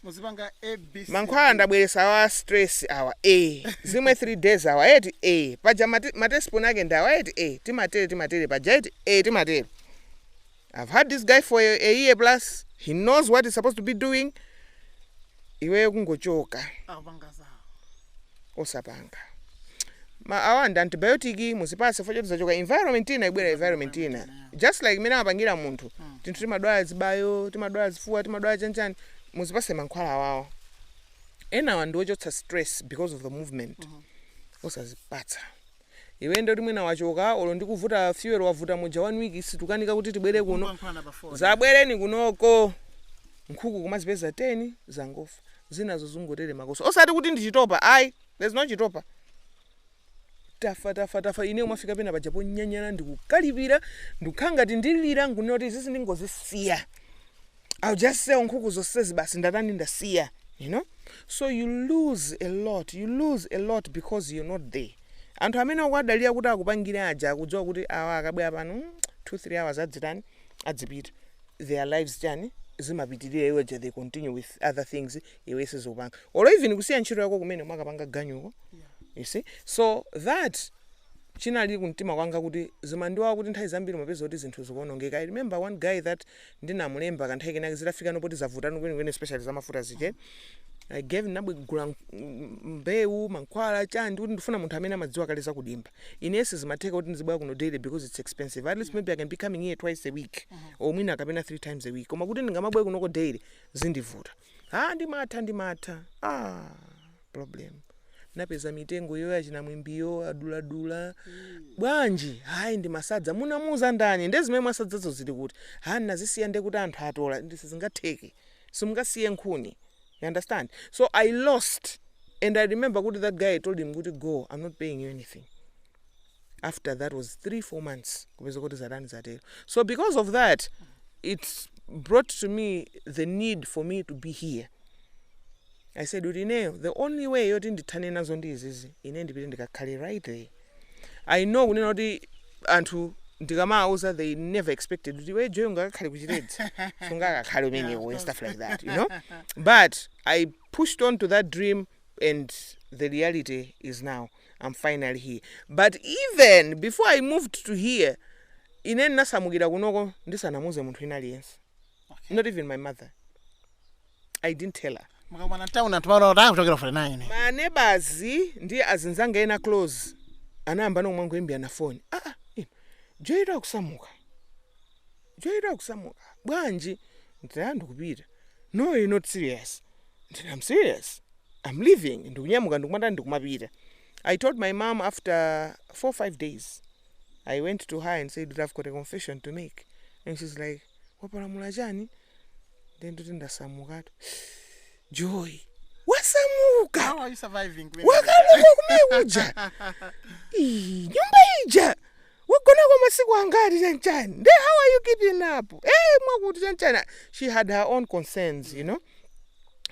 muzipanga A B C mankhwala ee. ndabweresa awa a stress awa ee. zimwe 3 days awa eti ee. paja mati- ma teaspoon ake ndi awa eti ee. timatere timatere paja eti ee timatere i've had this guy for a, a year plus he knows what he's supposed to be doing iwe kungochoka akupanga zawo osapanga ma awa ndi antibiotic muzipatse chifukwa choti zachoka environment ina zabwera environment ina just like mmene amapangira munthu tinthu timadwala zibayo timadwala zifuwa timadwala chanchani muzipase mankhwala awawa enawa ndi ochotsa stress because of the movement osazipatsa Iwe nde kuti mwina wachoka olo ndi kuvuta fuel wavuta muja one week tikukanika kuti tibwere kuno Mukungoyankhulana pa phone. dzabwereni kunoko nkhuku kumazipeza 10 zangofa zinazo zungotere makoso osati kuti ndi chitopa ayi there's no chitopa tafa tafa tafa ine ndimafika pena paja ponyanyala ndikukalipira ndikukhala ngati ndilira nkunena kuti izizi ndingozisiya I'll just sell nkhuku zonsezi basi ndatani ndasiya you know so you lose a lot you lose a lot because you're not there anthu amene ukuwadalira kuti akupangire aja akudziwa kuti awa akabwera pano mm, 2 3 hours adzitani adzipita their lives chani zimapitirira iwo ja they continue with other things iwe sizikupanga or even kusiya ntchito yako kumene nkukapanga ganyuko you see so that chinali kumtima kwanga kuti zimandiwawa kuti nthawi zambiri mapeza kuti zinthu zikuonongeka i remember one guy that ndinamulemba kanthawi kenake zitafikano poti zavutano kwenikweni especially za mafuta zije I gave ndabwegula mbewu mankhwala chani kuti ndifuna munthu amene amadziwa kale zakudimba ine sizimatheka kuti ndizibwera kuno daily because it's expensive at least maybe I can be coming here twice a week or mwina kapena three times a week koma kuti ndingamabwere kunoko daily zindivuta ah ndimatha ndimatha ah problem napeza mitengo iyoyo ya chinamwimbiyo aduladula bwanji hayi ndimasadza munamuuza ndani nde zimene mwasadzazo zili kuti ha ndinazisiya nde kuti anthu atola ndi sizingatheke simungasiye nkhuni you understand so i lost and i remember kuti that guy told him kuti go i'm not paying you anything after that was 3 4 months kupeza kuti zatani zatero so because of that it brought to me the need for me to be here i said kuti ineyo the only way yoti ndithane nazo ndi izizi ine ndipite ndikakhale right there i know kunena kuti anthu ndikamawauza they never expected kuti iwe joy ungakakhale kuchiredzi sungakakhale umenewo and stuff like that you know but i pushed on to that dream and the reality is now am finally here but even before i moved to here ine ndinasamukira kunoko ndisanamuze munthu ina aliyense okay. not even my mother i didn't tell her mukakumana town anthu maona kuti akuchokera 49 manebazi ndi azinzanga ena close anayamba nomwe ngoimbirana foni aa ah, ah, ino joy tu akusamuka Joy kusamuka bwanji ndati eya ndikupita no you not serious ndati am serious am leaving ndikunyamuka ndikumatani ndikumapita I told my mom after 4 5 days I went to her and said kuti I've got a confession to make and she's like wapalamula chani nde ndikuti ndasamukatu Joy wasamuka How are you surviving kumeneko? wakalowa kumene kuja Ii, nyumba ija wagonamo masiku angati chanchani nde how are you keeping up ee mwakuti chanchani she had her own concerns you know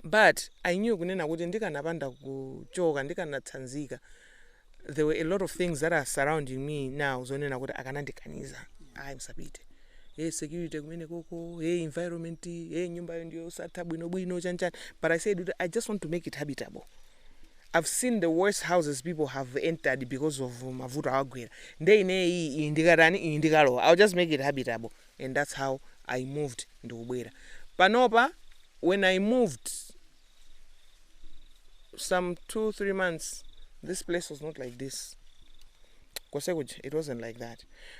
but i knew kunena kuti ndikanapanda kuchoka ndikanatsanzika there were a lot of things that are surrounding me now zonena kuti akanandikaniza ayi musapite hey security kumene koko hey environment hey nyumbayo ndiyosatha bwinobwino chanchani but i said kuti i just want to make it habitable I've seen the worst houses people have entered because of mavuto awagwera nde inee iyi iyi ndikatani iyi ndikalowa I'll just make it habitable and that's how I moved ndikubwera panopa when I moved some 2 3 months this place was not like this kose kuja it wasn't like that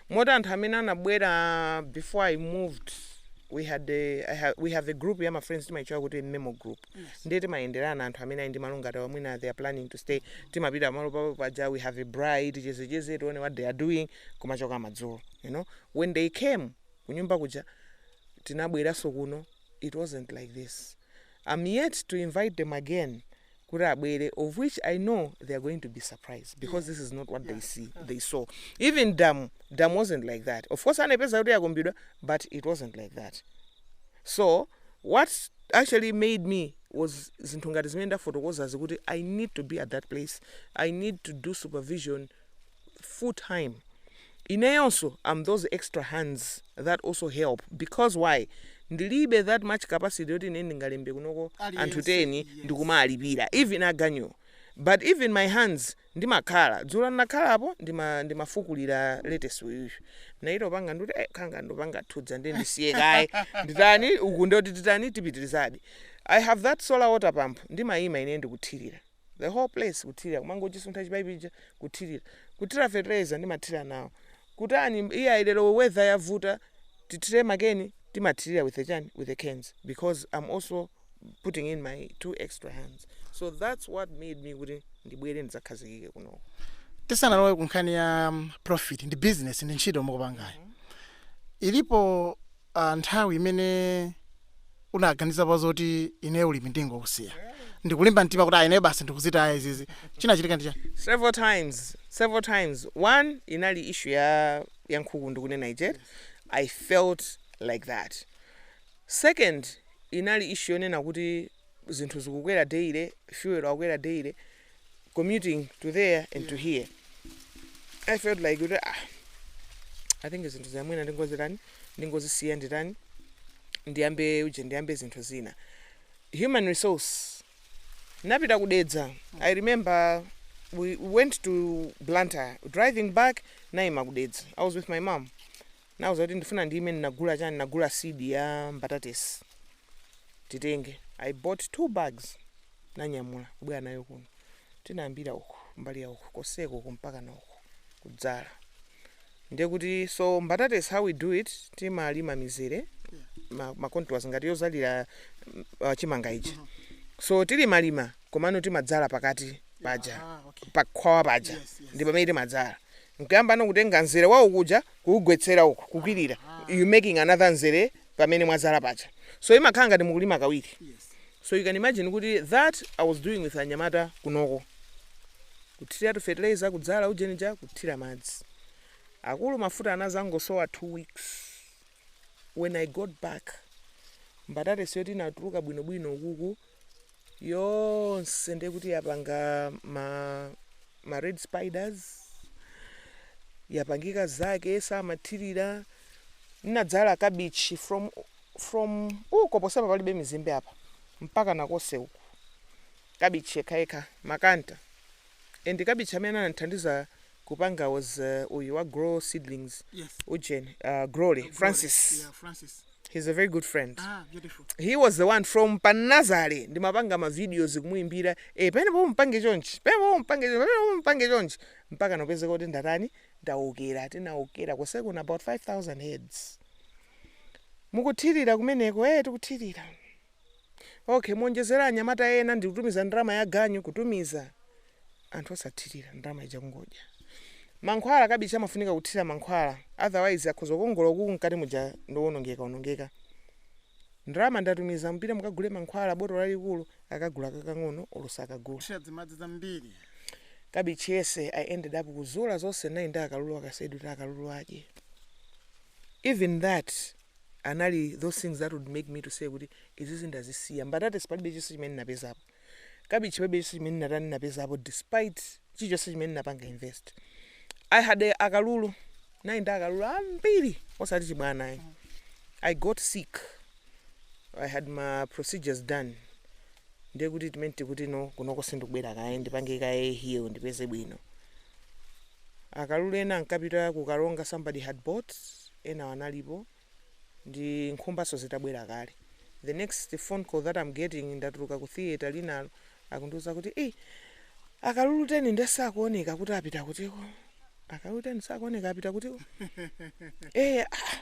moti anthu amene anabwera before I moved we had a, I ha, we have a group ya ma friends timaitchula kuti memo group ndiye timayenderana anthu amene ali ndi malo ngati awa mwina they are planning to stay timapita pamalo pawo paja we have a braai tichezecheze tione what they are doing kumachoka madzulo you know when they came kunyumba kuja tinabweranso kuno it wasn't like this i'm yet to invite them again kuti abwere of which i know they are going to be surprised because this is not what they see they saw even dam dam wasn't like that of course anapeza kuti yakumbidwa but it wasn't like that So what actually made me was zinthu ngati zimene ndafotokozazi kuti I need to be at that place, I need to do supervision full time. Ineyonso am those extra hands that also help because why? Ndilibe that much capacity yoti ine ndingalembe kunoko anthu 10 ndikumawalipira even aganyu. But even my hands ndimakhala dzulo ndinakhala apo ndimafukulira letesi uyuyu naita kupanga ndikuti eh, khanga ndikupanga thudza ndi ndisiye kaye nditani uku ndoti titani tipitirizadi i have that solar water pump ndimayima ine ndikuthirira the whole place kuthirira kumangochisuntha chipaipi chija kuthirira kuthira fertilizer ndimathira nawo kutani iye ayilero weather yavuta tithire ma cane timathirira with the chani with the cans because i'm also putting in my two extra hands so that's what made me kuti ndibwere ndidzakhazikike kunoko tisanalowe ku nkhani ya um, profit ndi business ndi ntchito mukupangayo ilipo uh, nthawi imene unaganiza pa zoti ine ulimi ndingokusiya ndikulimba mtima kuti a ineyo basi ndikuzitaya izizi chinachitika ndi chani several times several times one inali issue ya ya nkhuku ndikunena ije i felt like that Second inali issue yonena kuti zinthu zikukwera daily, fuel akukwera daily, commuting to there and to here. I felt like kuti ah, I think zinthu zina mwina ndingozitani, ndingozisiya nditani, ndiyambe uje ndiyambe zinthu zina. Human resource napita ku Dedza. I remember we went to Blantyre. Driving back naima ku Dedza. I was with my mom. Nawauza kuti ndifuna ndiyime ndinagula chani ndinagula seed ya mbatatesi titenge I bought two bags nanyamula kubwera nayo kuno tinayambira uku mbali ya uku koseko uku mpaka na uku kudzala ndiye kuti so mbatatesi how we do it timalima mizere ma, ma contours ngati yodzalira mm, uh, chimanga ichi mm -hmm. so tilimalima komano timadzala pakati paja yeah, ah, okay. pakhwawa paja yes, yes. ndi pamene timadzala nkuyamba no kutenga mzere wa uku uja kuugwetsera uko kukwirira you're making another mzere pamene mwadzala paja so imakhala ngati mukulima kawiri so you can imagine kuti that i was doing with anyamata kunoko kuthira to fertilizer kudzala ujenija kuthira madzi akulu mafuta anazangosowa two weeks when i got back mbatatesi yoti inatuluka bwinobwino ukuku yonse ndiye kuti yapanga ma, ma red spiders yapangika zake samathirira nadzala kabichi from from uko ponsepa palibe mizimbe apa mpaka nakose uku kabichi yekhayekha makanta and cabbage amene anandithandiza kupanga was uh, uyu wa Grow Seedlings Yes. ujen uh, grole Glory. Francis Yeah, Francis. he's a very good friend Ah, beautiful. he was the one from pa Nazare ndimapanga mavideos kumuimbira e pene po mpange chonchi pene po mpange chonchi pene po mpange chonchi mpaka nopezeka kuti ndatani ndaokera tinaokera koseko na about 5000 heads mukuthirira kumeneko e tikuthirira Ok, muonjezere anyamata ena ndi kutumiza ndalama ya ganyu kutumiza anthu osathirira ndalama ija kungodya. Mankhwala cabbage amafunika kuthira mankhwala otherwise akhoza kukongola kuku mkati muja ndowonongeka onongeka. Ndalama ndatumiza mupite mukagule mankhwala botolo lalikulu akagula kakang'ono olo sakagula. Thira dzimadzi dzambiri. Cabbage yense I ended up kuzula zonse nayi ndi akalulu I just said kuti akalulu adye even that. anali those things that would make me to say kuti izizi ndazisiya mbatatesi palibe chonse chimene ndinapezapo cabbage palibe chonse chimene ndinatani ndinapezapo despite chilichonse chimene ndinapanga invest i had a- akalulu nayi ndi akalulu ambiri osati chibwana ayi i got sick i had my procedures done ndiye kuti time tikuti no kunoko sindikubwera kaye ndipange kaye heal ndipeze bwino Akalulu ena ankapita ku Karonga somebody had bought, enawo analipo ndi nkhumbanso zitabwera kale. The next phone call that I'm getting ndatuluka ku theatre winayo akundiuza kuti ii akalulu 10 nde sakuoneka kuti apita kutiko? Akalulu 10 sakuoneka apita kutiko? Eh, ah,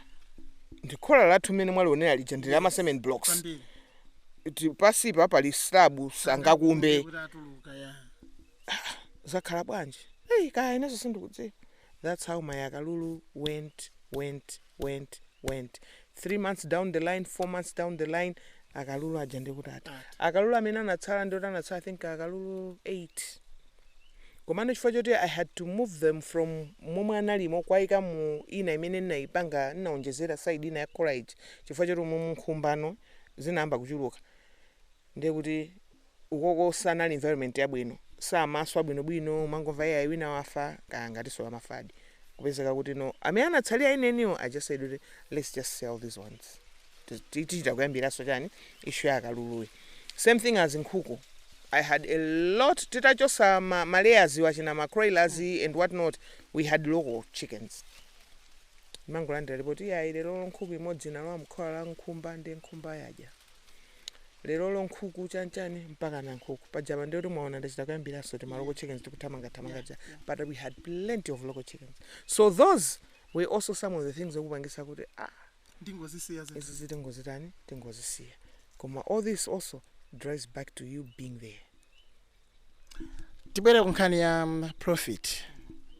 ndi khola lathu mmene mwalionera lija ndi la ma cement blocks. Kwambiri. Ti- Pansipa pali slab sangakumbe. Kuti atuluka ya. zakhala bwanji hey, kaya ineso sindikudziwa that's how my akalulu went went went went three months down the line four months down the line akalulu aja ndikuti ati akalulu amene anatsala ndioti anatsala i think akalulu 8 komano chifukwa choti i had to move them from momwe analimo kuwayika mu ina imene ndinayipanga ndinaonjezera side ina ya khola chifukwa choti umu nkhumba no zinayamba kuchuluka ndiye kuti ukoko sanali environment yabwino samaswa bwinobwino mumangomva iyayi wina wafa kaya angatinso amafadi kupezeka kuti no amene anatsala enieniwo i just said kuti let's just sell these ones Ti- ti- tichita kuyambiranso chani issue ya akaluluyi same thing as nkhuku i had a lot titachosa ma, ma layers iwo achina ma Kuroilers and what not we had local chickens mumangolandira report iyayi lero nkhuku imodzi inalowa mkhola la nkhumba nde nkhumba yadya lerolo nkhuku chanchani mpaka na nkhuku pajapa ndi oti mwaona ndachita kuyambiranso tima local chickens tikuthamangathamanga ja but we had plenty of local chickens so those were also some of the things okupangisa kuti ah ndingozisiya zinthu izi tingozitani tingozisiya koma all this also drives back to you being there tibwere ku nkhani ya mm, profit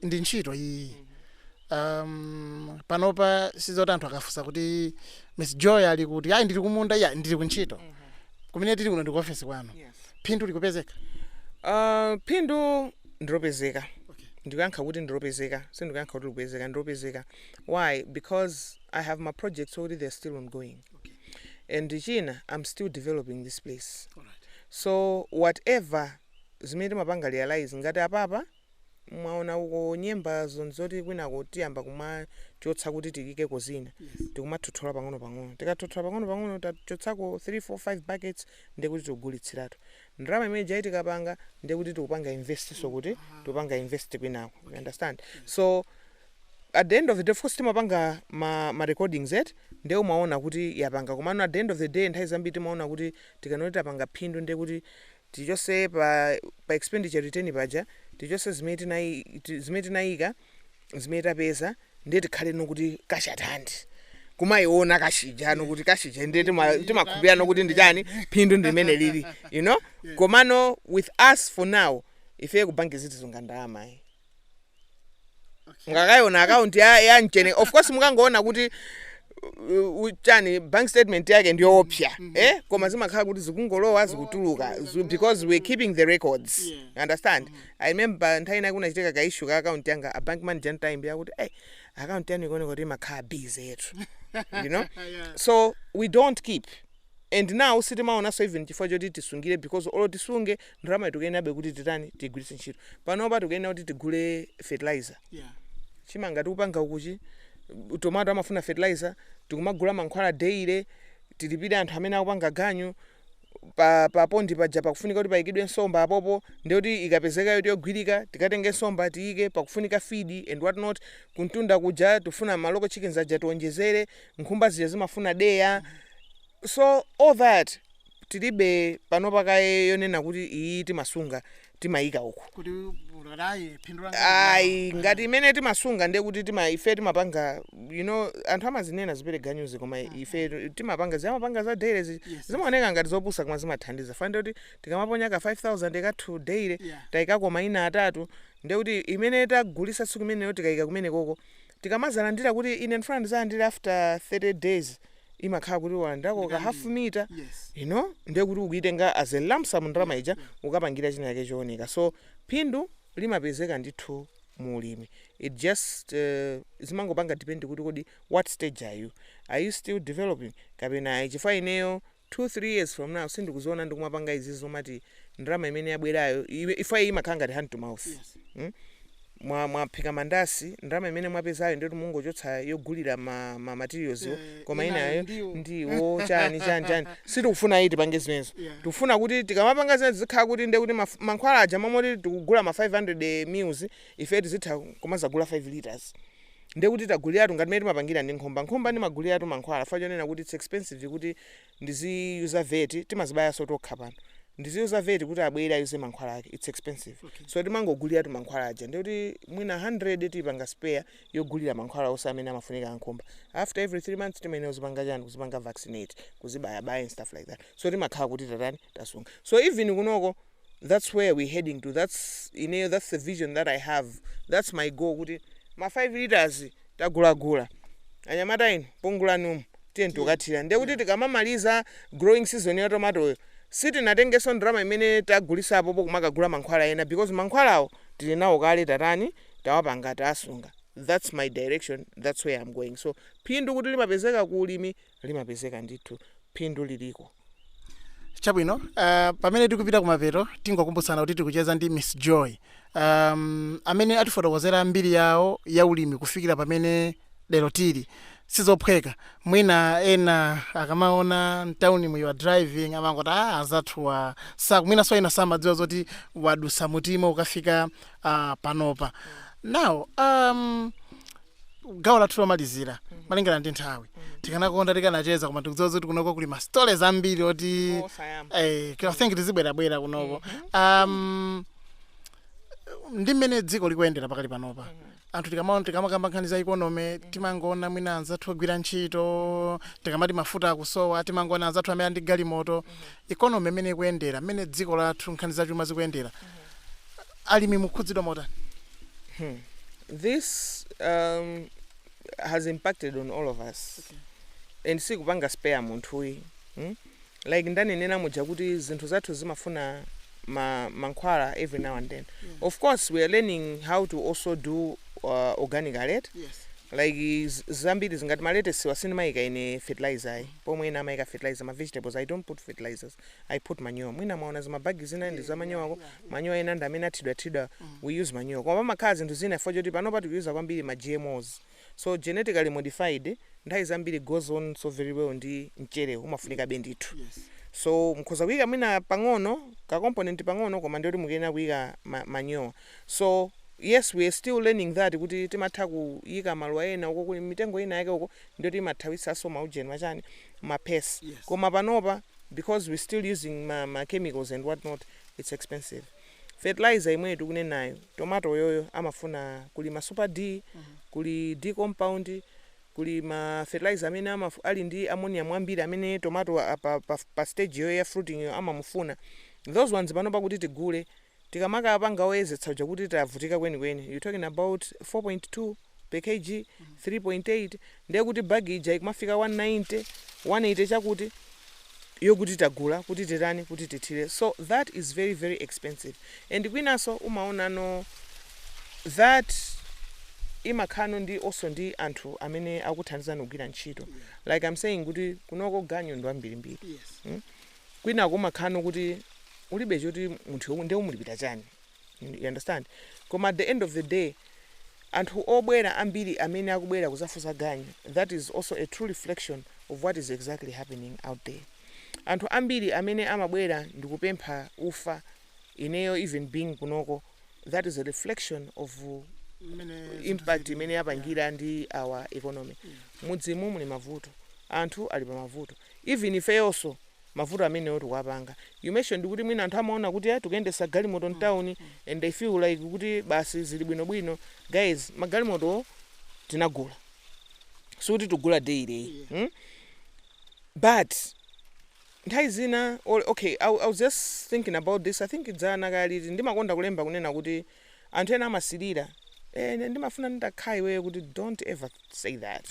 ndi ntchito iyi um, panopa sizoti anthu akafunsa kuti miss joy ali kuti ayi ndili kumunda ya ndili kuntchito kumene tili kuno ndi ku ofesi kwanu phindu likupezeka Uh, phindu ndilopezeka ndikuyankha kuti ndilopezeka sindikuyankha kuti likupezeka ndilopezeka why because i have my projects already they're still ongoing and china i'm still developing this place so whatever zimene timapanga realise ngati apapa mwaona uko nyembazo nzoti kwinako tiyamba kumachotsa kuti tiikeko zina tikumathothola pang'ono pang'ono tikathothola pang'ono pang'ono tachotsako 3 4 5 buckets ndiye kuti tikugulitsiratu ndalama imene ija tikapanga ndiye kuti tikupanga investinso kuti tikupanga invest kwinako you understand so at the end of the day of course timapanga ma, ma recordings eti nde umaona kuti yapanga komano at the end of the day nthawi zambiri timaona kuti tikanoti tapanga phindu nde kuti tichose pa, pa expenditure return paja tichose zimene tinayi- ti- zimene tinayika zimene tapeza nde tikhaleno kuti cash at hand kumayiona cash ijano kuti cash ija nde tima- timakhulupirano kuti ndi chani phindu ndi limene lili you know komano with us for now ife kubanki sitisunga ndalama mukakayiona akaunti ya, ya mchene of course mukangoona kuti uh, uh, chani bank statement yake ndiyoopsa eh? koma zimakhala kuti zikungolowa zikutuluka zu- because we're keeping the records Yeah. you understand i remember nthawi inayake kunachitika ka issue ka akaunti yanga a bank manager ataimbira kuti hey, akaunti yanu ikuoneka kuti imakhala busy yetu you know Yeah. so we don't keep and now sitimaonanso even chifukwa choti tisungire because olo tisunge ndalamayo tikuyenerabe kuti titani tigwiritse ntchito panopa tikuyenera kuti tigule fertilizer yeah. chimanga tikupanga ukuchi tomato amafuna fertilizer tikumagula mankhwala daily tilipire anthu amene akupanga ganyu pa pa pondi paja pakufunika kuti payikidwe nsomba apopo ndiye kuti ikapezeka yoti yogwirika tikatenge nsomba tiyike pakufunika feed and what not kumtunda kuja tifuna ma local chickens aja tionjezere nkhumba zija zimafuna deya So all that tilibe panopa kaye yonena kuti iyi timasunga timayika uku kuti kuti ayi phindu langa ayi ngati imene timasunga ndiye kuti tima ife timapanga you know anthu amazinena zipereganyuzi koma ife timapanga timapanga za daily zi- Yes. zimaoneka ngati zopusa koma zimathandiza chifukwa nde kuti tikamaponya ka 5000 kathu daily Yeah. tayikako mayina atatu ndiye kuti imene tagulisa tsiku imeneyo tikayika kumenekoko tikamadzalandira kuti ine ndifuna ndidzalandire after 30 days imakhala kuti walandirako ka half mita Yes. you know ndiye kuti ukuitenga as a lump sum ndalama ija ukapangira china chake chooneka so phindu limapezeka ndithu mu ulimi it just uh, zimangopanga depend kuti kodi what stage are you are you still developing kapena ayi chifukwa ineyo 2 3 years from now sindikuziona ndikumapanga izizi zomati ndalama imene yabwerayo iwe- ife iyi imakhala ngati hand to mouth Yes. mm? mwa mwaphika mandasi ndalama imene mwapezayo nde kuti mungochotsa yogulira ma, ma materials yo Eh, koma inayo inayo ndiwo. ndiwo chani chani chani sitikufuna ayi tipange zimenezo Yeah. tikufuna kuti tikamapanga zimenezo zikhala kuti nde kuti maf- mankhwala aja m'malo moti tikugula ma 500 mils ife tizitha kumazagula 5 liters ndiye kuti taguliratu ngati mmene timapangira ndi nkhumba. Nkhumba ndimaguliratu mankhwala chifukwa chonena kuti it's expensive kuti ndiziyuza vet timazibayanso tokha pano. Ndiziyuza vet kuti abwere ayuze mankhwala ake it's expensive. So timangoguliratu mankhwala aja ndiye kuti mwina 100 tipanga spare yogulira mankhwala onse amene amafunika a nkhumba. After every 3 months timayenera kuzipanga chani kuzipanga vaccinate, kuzibayabaya and stuff like that. So timakhala kuti tatani tasunga. So even kunoko that's where we heading to that's ineyo that's the vision that i have that's my goal kuti ma 5 liters tagulagula anyamata inu pungulani umu tiye tikathire ndiye kuti tikamamaliza growing season ya tomatoyo sitinatengenso ndalama imene tagulisapo pokumakagula mankhwala ena because mankhwalawo tili nawo kale tatani tawapanga tasunga that's my direction that's where i'm going so phindu kuti limapezeka ku ulimi limapezeka ndithu phindu liliko. Chabwino, uh, pamene tikupita kumapeto tingokumbutsana kuti tikucheza ndi Miss Joy um, amene atifotokozera mbiri yawo ya ulimi kufikira pamene lero tili sizophweka mwina ena akamaona mtaunimu you're driving amangoti ah azathuwa saku mwinanso ena samadziwa zoti wadutsa muti mmene ukafika uh, panopa now um, gawo lathu lomalizira malingana ndi nthawi tikanakonda tikanacheza koma tikudziwa kuti kunoko kuli ma story ambiri oti Osayamba. eh, I think tizibwerabwera kunoko um, ndi mmene dziko likuyendera pakali panopa anthu tikamaona tikamakamba nkhani za ikonomi timangoona mwina anzathu ogwira ntchito tikamati mafuta akusowa timangoona anzathu amene ali ndi galimoto ikonomi imene ikuyendera mmene dziko lathu nkhani zachuma zikuyendera Alimi mukukhudzidwa motani? Hmm. This um, has impacted on all of us and sikupanga spare munthu ayi hmm? like ndanenena muja kuti zinthu zathu zimafuna ma, mankhwala every now and then yeah. of course we are learning how to also do uh, organic a lot yes. like z- zambiri zangati ma lettuce wa sindimayika ine fertilizer ayi pomwe ena amayika fertilizer ma vegetables i don't put fertilizers I put manure. Mwina mwaona zima bag zina ndi za manure uko. Manure ena ndi amene athidwa thidwa. We use manure. Koma pamakhala zinthu zina chifukwa choti panopa tikuyuza kwambiri ma GMOs. So genetically modified nthawi zambiri goes on so very well ndi mchere umafunikabe ndithu. So mukhoza kuika mwina pang'ono ka component pang'ono koma ndiyoti mukuyenera kuika ma, manure. So yes we are still learning that kuti timatha kuika maluwa ena uko kuli mitengo ina yake uko ndiyoti imathawitsanso maujeni machani ma pests koma panopa because we still using ma ma chemicals and what not it's expensive. Fertilizer imweyo tikunenayo tomato yoyo amafuna kuli ma super D kuli D compound kuli ma fertilizer amene amaf ali ndi ammonium ambiri amene tomato apa pa pa stage yoyo ya fruiting yo amamufuna those ones panopa kuti tigule Tikamakapanga oyezetsa uja kuti tavutika kwenikweni you're talking about 4.2 per Kg 3.8 ndiye kuti bag ija ikumafika 190 180 chakuti yokuti tagula kuti titani kuti tithire so that is very very expensive and kwinanso umaonano that imakhalano ndi also ndi anthu amene akuthandizano kugwira ntchito like I'm saying kuti kunoko ganyu ndi wambirimbiri Yes. mm? kwina kumakhano kuti ulibe choti munthu yo- nde umulipira chani you understand koma at the end of the day anthu obwera ambiri amene akubwera kuzafusa ganyu that is also a true reflection of what is exactly happening out there anthu ambiri amene amabwera ndikupempha ufa ineyo even being kunoko that is a reflection of impact imene yapangira ndi our economy mudzimu muli mavuto anthu ali pa mavuto even ifeyoso mavuto amenewo tikuwapanga, you mentioned kuti mwina anthu amaona kuti ayi tikuyendesa galimoto mtown and they feel like kuti basi zili bwino bwino, guys magalimotowo tinagula sikuti tikugula daily ayi mm? but nthawi zina or okay I, I was just thinking about this I think dzana kaya liti ndimakonda kulemba kunena kuti anthu ena amasilira eh, ine ndimafuna nditakhala iweyo kuti don't ever say that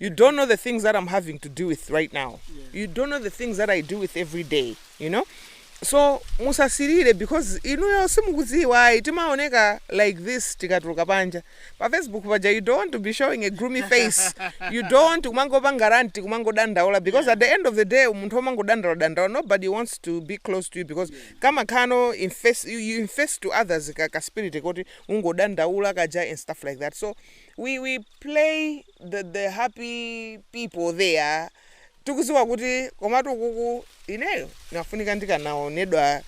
you don't know the things that i'm having to deal with right now you don't know the things that i deal with every day you know so musasilire because inuyo simukudziwa ayi timaoneka like this tikatuluka panja pa Facebook paja you don't want to be showing a gloomy face you don't want kumangopanga ranti kumangodandaula because at the end of the day munthu omangodandaula dandaula nobody wants to be close to you because kamakhala no infest, you infest to others ka, ka spirit koti ungodandaula kaja and stuff like that so we, we play the, the happy people there tikuziwa kuti komatu kuku ineyo nafunika ndikanaonedwa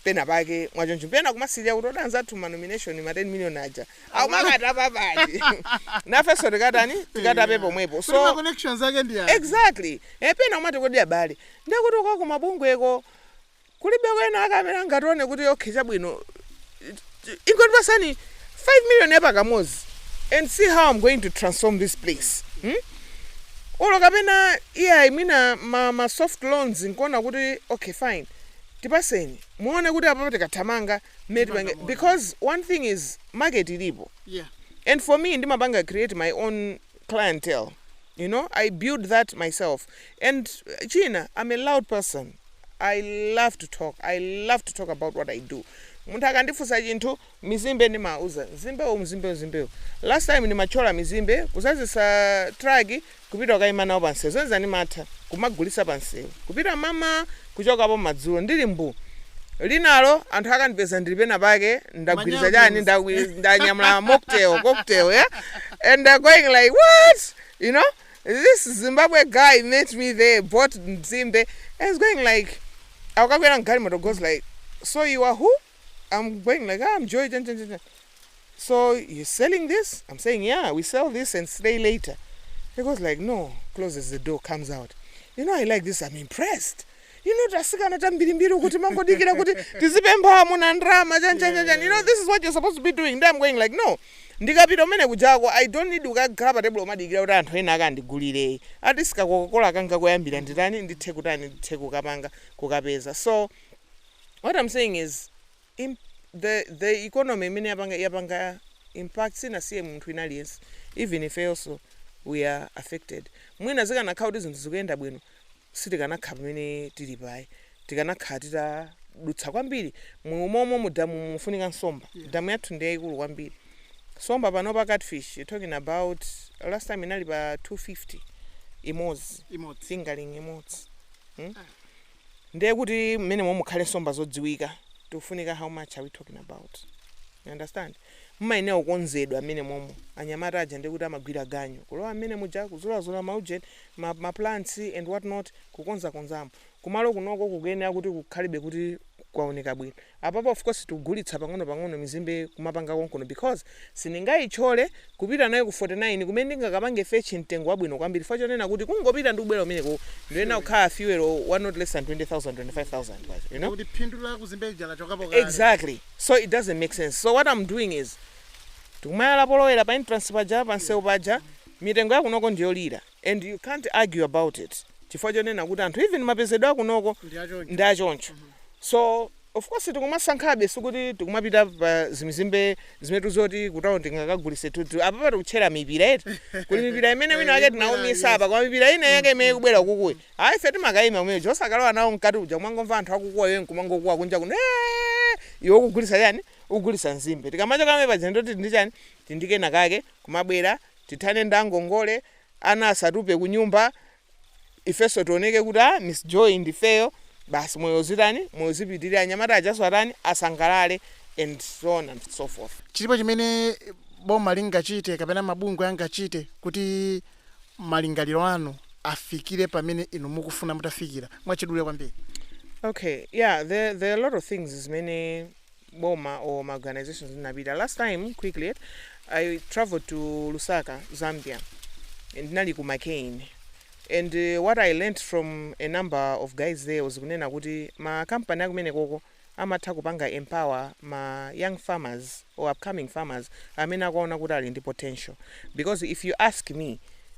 pena pake mwachoncho pena kumasirira kuti anzathu ma donation ma 10 million aja akumakata papati nafenso tikatani tikatape pomwepo Kuti ma so connections ake ndi aja. exactly pena umati kodi abale ndekuti uko kumabungweko Kulibe wena ake amene angatione kuti okay chabwino ingondipasani 5 million ya pakamozi and see how I'm going to transform this place hmm? olo kapena iyayi mwina ma, ma soft loans nkuona kuti okay fine tipaseni muone kuti apapa tikathamanga mmene tipange because one thing is market ilipo yeah. and for me ndimapanga create my own clientele you know i build that myself and china i'm a loud person i love to talk i love to talk about what i do munthu akandifunsa chinthu mizimbe ndimauza mzimbewu mzimbewu mzimbewu last time ndimatchola mizimbe kuzazisa traki kupita kukaima nawo pansewu zonse ndimatha kumagulisa pansewu kupita mama kuchokapo madzulo ndili mbu linalo anthu akandipeza ndili penapake ndagwiriza chani ndanyamula mocktail cocktail yeah? and they going like what you know this zimbabwe guy met me there bought mzimbe and he's going like akukakwera mgalimoto goes like so you are who i'm going like ah, i'm joy chan chani so you selling this i'm saying yeah we sell this and stay later he goes like no closes the door comes out you know i like this i'm impressed you know atsikana ambirimbiri timangodikira kuti tizipempha amuna ndrama chani chani chani you know this is what you're supposed to be doing then i'm going like no ndikapita kumene kujako i don't need kukakhala pa tebulo kumadikira kuti anthu ena akandigulire ati si kakokakola kanga koyambira nditani ndithe kutani ndithe kukapanga kukapeza so what i'm saying is Imp, the economy imene yapanga yapanga impact sinasiye munthu wina aliyense even ifeyonso we are affected mwina zikanakhala kuti zinthu zikuyenda bwino sitikanakhala pamene tilipa ayi tikanakhala titadutsa kwambiri mmomo mu damu mufunika nsomba Yeah. damu yathu ndi yayikulu kwambiri nsomba panopa catfish you're talking about last time inali pa 250 imodzi imodzi fingerling imodzi ndiye kuti mmenemomo mukhale nsomba zodziwika tikufunika how much are we talking about you understand mumayenera kukonzedwa mmenemomo anyamata aja ndiye kuti amagwira ganyu kulowa mmene muja kuzulazula maujeni ma plants and what not kukonzakonzamo kumalo kunoko kukuyenera kuti kukhalebe kuti kwaoneka bwino Apapa of course tikugulitsa pang'ono pang'ono mizimbe kumapanga konkuno because sindingaitchole kupita nayo ku 49 kumene ndingakapange fetch mtengo wabwino kwambiri chifukwa chonena kuti kungopita ndi kubwera kumeneko ndiyenera kukhala fuel wa not less than 20000, 25000 kwacha you know. Ndiye kuti phindu la ku nzimbe lija lachokapo kale. Exactly so it doesn't make sense so what I'm doing is tikumayala polowera pa entrance paja pansewu paja mitengo yakunoko ndiyolira. and you can't argue about it chifukwa chonena kuti anthu even mapezedwe akunoko ndi achoncho so of course tikumasankhabe sikuti tikumapita pa zimizimbe zimene ndi zoti kutawuni tingakagulise tutu apapa tikutchera mipira eti kuli mipira imene wina wake tinaumisa apa koma mipira ina yake imene kubwera kukuyi ayi ife timakayima kumene kuja osakalowa nawo mkati uja kumangomva anthu akukuwa iwe nkumangokuwa kunja kuno "Eh!" iwe ukugulisa chani ndikugulisa nzimbe tikamachoka pamene paja ndoti ndi chani tili ndi kena kake kumabwera Tithane nda ngongole, ana asatupe kunyumba, ifenso tioneke kuti a Miss Joy ndifeyo, basi moyo uzitani, moyo uzipitirira, anyamata ajanso atani, asangalale and so on and so forth. Chilipo chimene boma lingachite kapena mabungwe angachite kuti malingaliro anu afikire pamene inu mukufuna mutafikira? Mwachidule kwambiri. Okay, yeah, there, there are a lot of things zimene. boma or ma organizations ndinapita last time quickly i traveled to lusaka zambia and ndinali ku mccain and uh, what i learnt from a number of guys there was kunena kuti ma company akumenekoko amatha kupanga empower ma young farmers or upcoming farmers amene akuona kuti ali ndi potential because if you ask me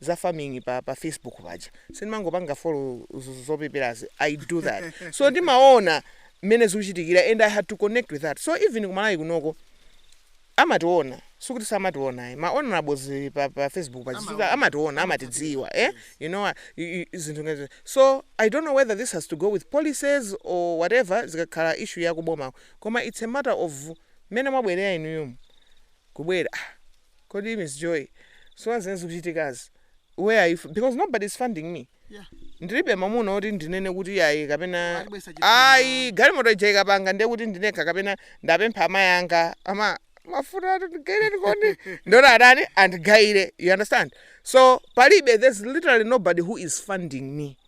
za farming pa pa facebook paja sindimangopanga follow zopeperazi i do that so ndimaona mmene zikuchitikira and i had to connect with that so even ku Malawi kunoko amationa sikuti samationa ayi ma honorables pa, pa facebook pa chifukwa amationa amatidziwa eh you know what, i- i- zinthu ngati so i don't know whether this has to go with policies or whatever zikakhala issue yakuboma koma it's a matter of mmene mwabwerera inuyo kubwera ah, Kodi Miss Joy, so pa zimene zikuchitikazi? Where are you? Because nobody is funding me. Yeah. Ndilibe mamuna oti ndinene kuti ayi kapena ayi galimoto ija ikapanga ndiye kuti ndinekha kapena ndapempha amayi anga ama mafuta ati ndigaireni ndona atani andigaire you understand so palibe there's literally nobody who is funding me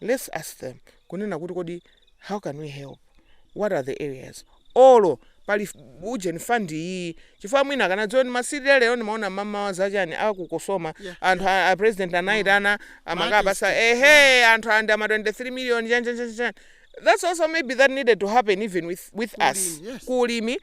let's ask them kunena kuti kodi how can we help what are the areas olo pali ujeni fund iyi chifukwa mwina akanadziwa kuti masiku lero ndimaona mamawa zachani a ku COSOMA yeah, anthu yeah. a president anayitana mm. amakawapatsa ehe yeah. anthu andi ama 23 million chani chani chani that's also maybe that needed to happen even with, with us yes. ku ulimi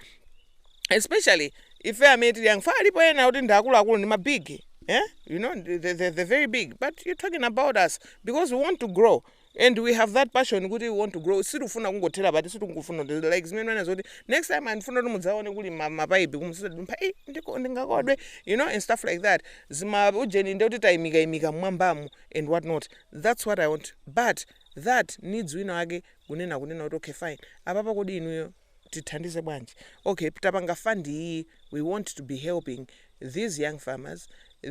especially ife amene tili young chifukwa alipo ena oti ndi akuluakulu ndi ma big eh? you know the, the, the, the very big but you're talking about us because we want to grow and we have that passion kuti we want to grow sitikufuna kungothera pati sitikufuna kuti- like zimene ndimanena zoti next time ndikufuna kuti mudzaone kuli ma- mapaipi uku mukudumpha "Eh, ndiko- ndingakodwe you know and stuff like that zima ujeni nde kuti tayimikayimika mmwambamu and what not that's what i want but that needs wina wake kunena kunena kuti okay fine apapa kodi inuyo tithandize bwanji ok tapanga fund iyi we want to be helping these young farmers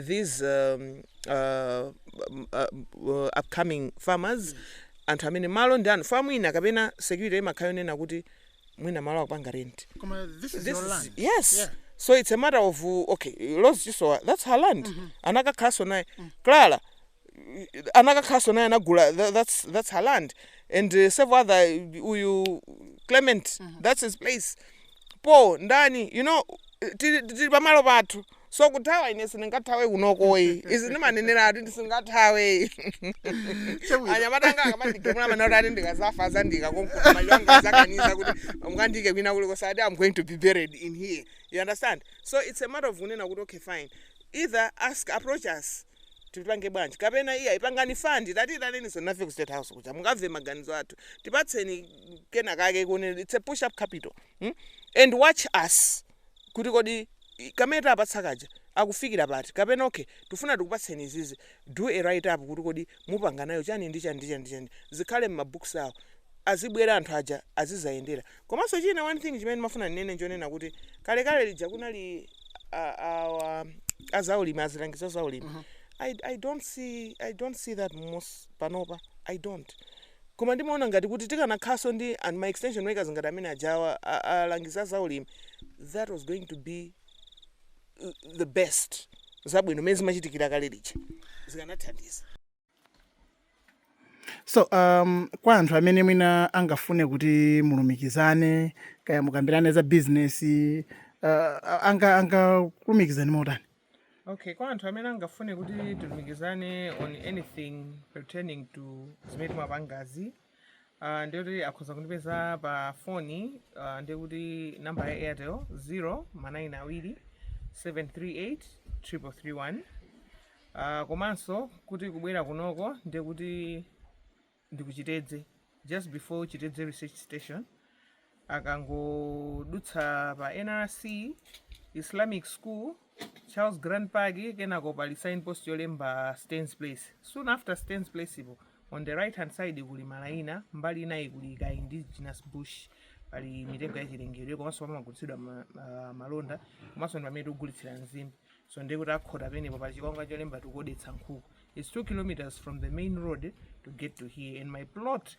these um, uh, um, uh, uh, upcoming farmers anthu amene malo ndi anu chifukwa mwina kapena security imakhala yonena kuti mwina malo akupanga rent Koma this is this your is, land. yes Yeah. so it's a matter of uh, okay lozi chisowa that's her land anakakhalanso naye clara anakakhaso naye anagula tha- that's, that's her land and uh, several other uyu clement that's his place po ndani you know tili tili pamalo pathu so kuthawa ine sindingathawe kunokoyi izi ndimanenera ati ndisingathawe anyamata anga akamandigemula manoti ati ndikazafa azandika konkuno maliro anga azakanize kuti mukandike kwina kuli kosati i'm going to be buried in here you understand so it's a matter of kunena kuti okay fine either ask approach us tipange bwanji kapena iyayi pangani fund tatiitaninso nafe ku state house kuja mukamve maganizo athu tipatseni kena kake kuonera it's a push up capital hmm? and watch us kuti kodi i- kamene tawapatsa kaja akufikira pati kapena okay tifuna tikupatseni izizi do a write up kuti kodi mupanga nayo chani ndi chani ndi chani ndi chani zikhale m'mabooks awo azibwera anthu aja azizayendera Komanso china one thing chimene ndimafuna ndinene nchonena kuti kalekale lija kunali a, a, a, a zaulimi azilangizi a zaulimi mm -hmm. I, I, don't see, I don't see that most panopa I don't koma ndimaona ngati kuti tikanakhanso ndi ndi ma extension workers ngati amene ajawa alangizi a zaulimi that was going to be the best zabwino mene zimachitikira kale lija zikanathandiza so um, kwa anthu amene mwina angafune kuti mulumikizane kaya mukambirane za business uh, anga angalumikizane motani okay kwa anthu amene angafune kuti tilumikizane on anything pertaining to zimene timapangazi Uh, ndiye kuti akhoza kundipeza pa foni uh, ndiye kuti namba ya airtel 0 manayini awiri 738 331 uh, komanso kuti kubwera kunoko ndiye kuti ndi ku Chitedze just before chitedze research station akangodutsa pa nrc islamic school charles grand park kenako pali sign post yolemba stans place soon after stans place po on the right hand side kuli malaini mbali inayi kuli ka indigenous bush pali mitengo yachilengedwe komanso pamagulitsidwa ma- ma- malonda komanso ndi pamene tikugulitsira nzimbe so ndiye kuti akhota pamenepo pali chikwangwa cholemba tikugulitsa nkhuku its two kilometers from the main road to get to here and my plot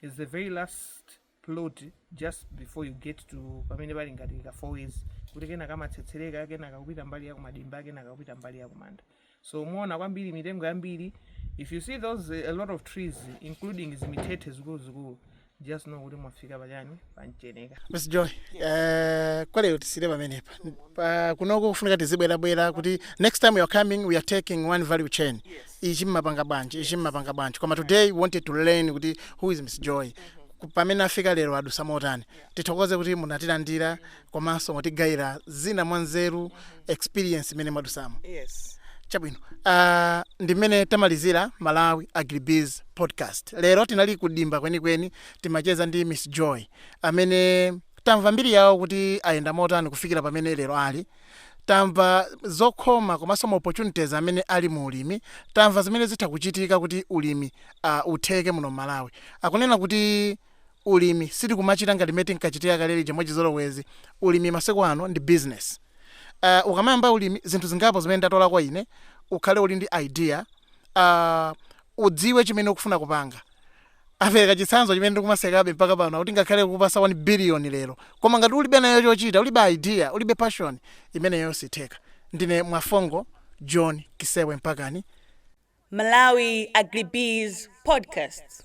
is the very last plot just before you get to pamene pali ngati ka four ways kuti kena kamatsetsereka kena kakupita mbali ya kumadimba kena kakupita mbali ya kumanda so muona kwambiri mitengo yambiri if you see those eh, a lot of trees including zimithethe zikuluzikulu just know kuti mwafika pachani pa Mcheneka Miss Joy, eh, kwa lero tisiyire pamenepa. Kunoko kufunika tizibwerabwera kuti next time we are coming we are taking one value chain. ichi mmapanga bwanji ichi mmapanga bwanji koma today we wanted to learn kuti who is miss joy Ku- pamene afika lero adutsa motani tithokoze kuti munatilandira komanso mwatigayira zina mwa nzeru experience imene mwadutsamo yes chabwino uh, ndi mmene tamalizira malawi agribiz podcast lero tinali kudimba kwenikweni timacheza ndi miss joy amene tamva mbiri yawo kuti ayenda motani kufikira pamene lero ali Tamva zokhoma komanso ma opportunities amene ali mu ulimi, tamva zimene zitha kuchitika kuti ulimi utheke muno m'Malawi. Akunena kuti ulimi si tikumachita ngati mmene tinkachitira kale lija mwachizolowezi, ulimi masiku ano ndi business. Ukamayamba ulimi zinthu zingapo zimene ndatolako ine, ukhale uli ndi idea, udziwe chimene ukufuna kupanga. Apereka chitsanzo chimene ndikumasekabe mpaka pano akuti ngakhale kukupatsa 1 billion lero koma ngati ulibe nayo chochita ulibe idea ulibe passion imeneyo siitheka. Ndine Mwafongo John Kisewe Mpakani. Malawi Agribiz Podcast.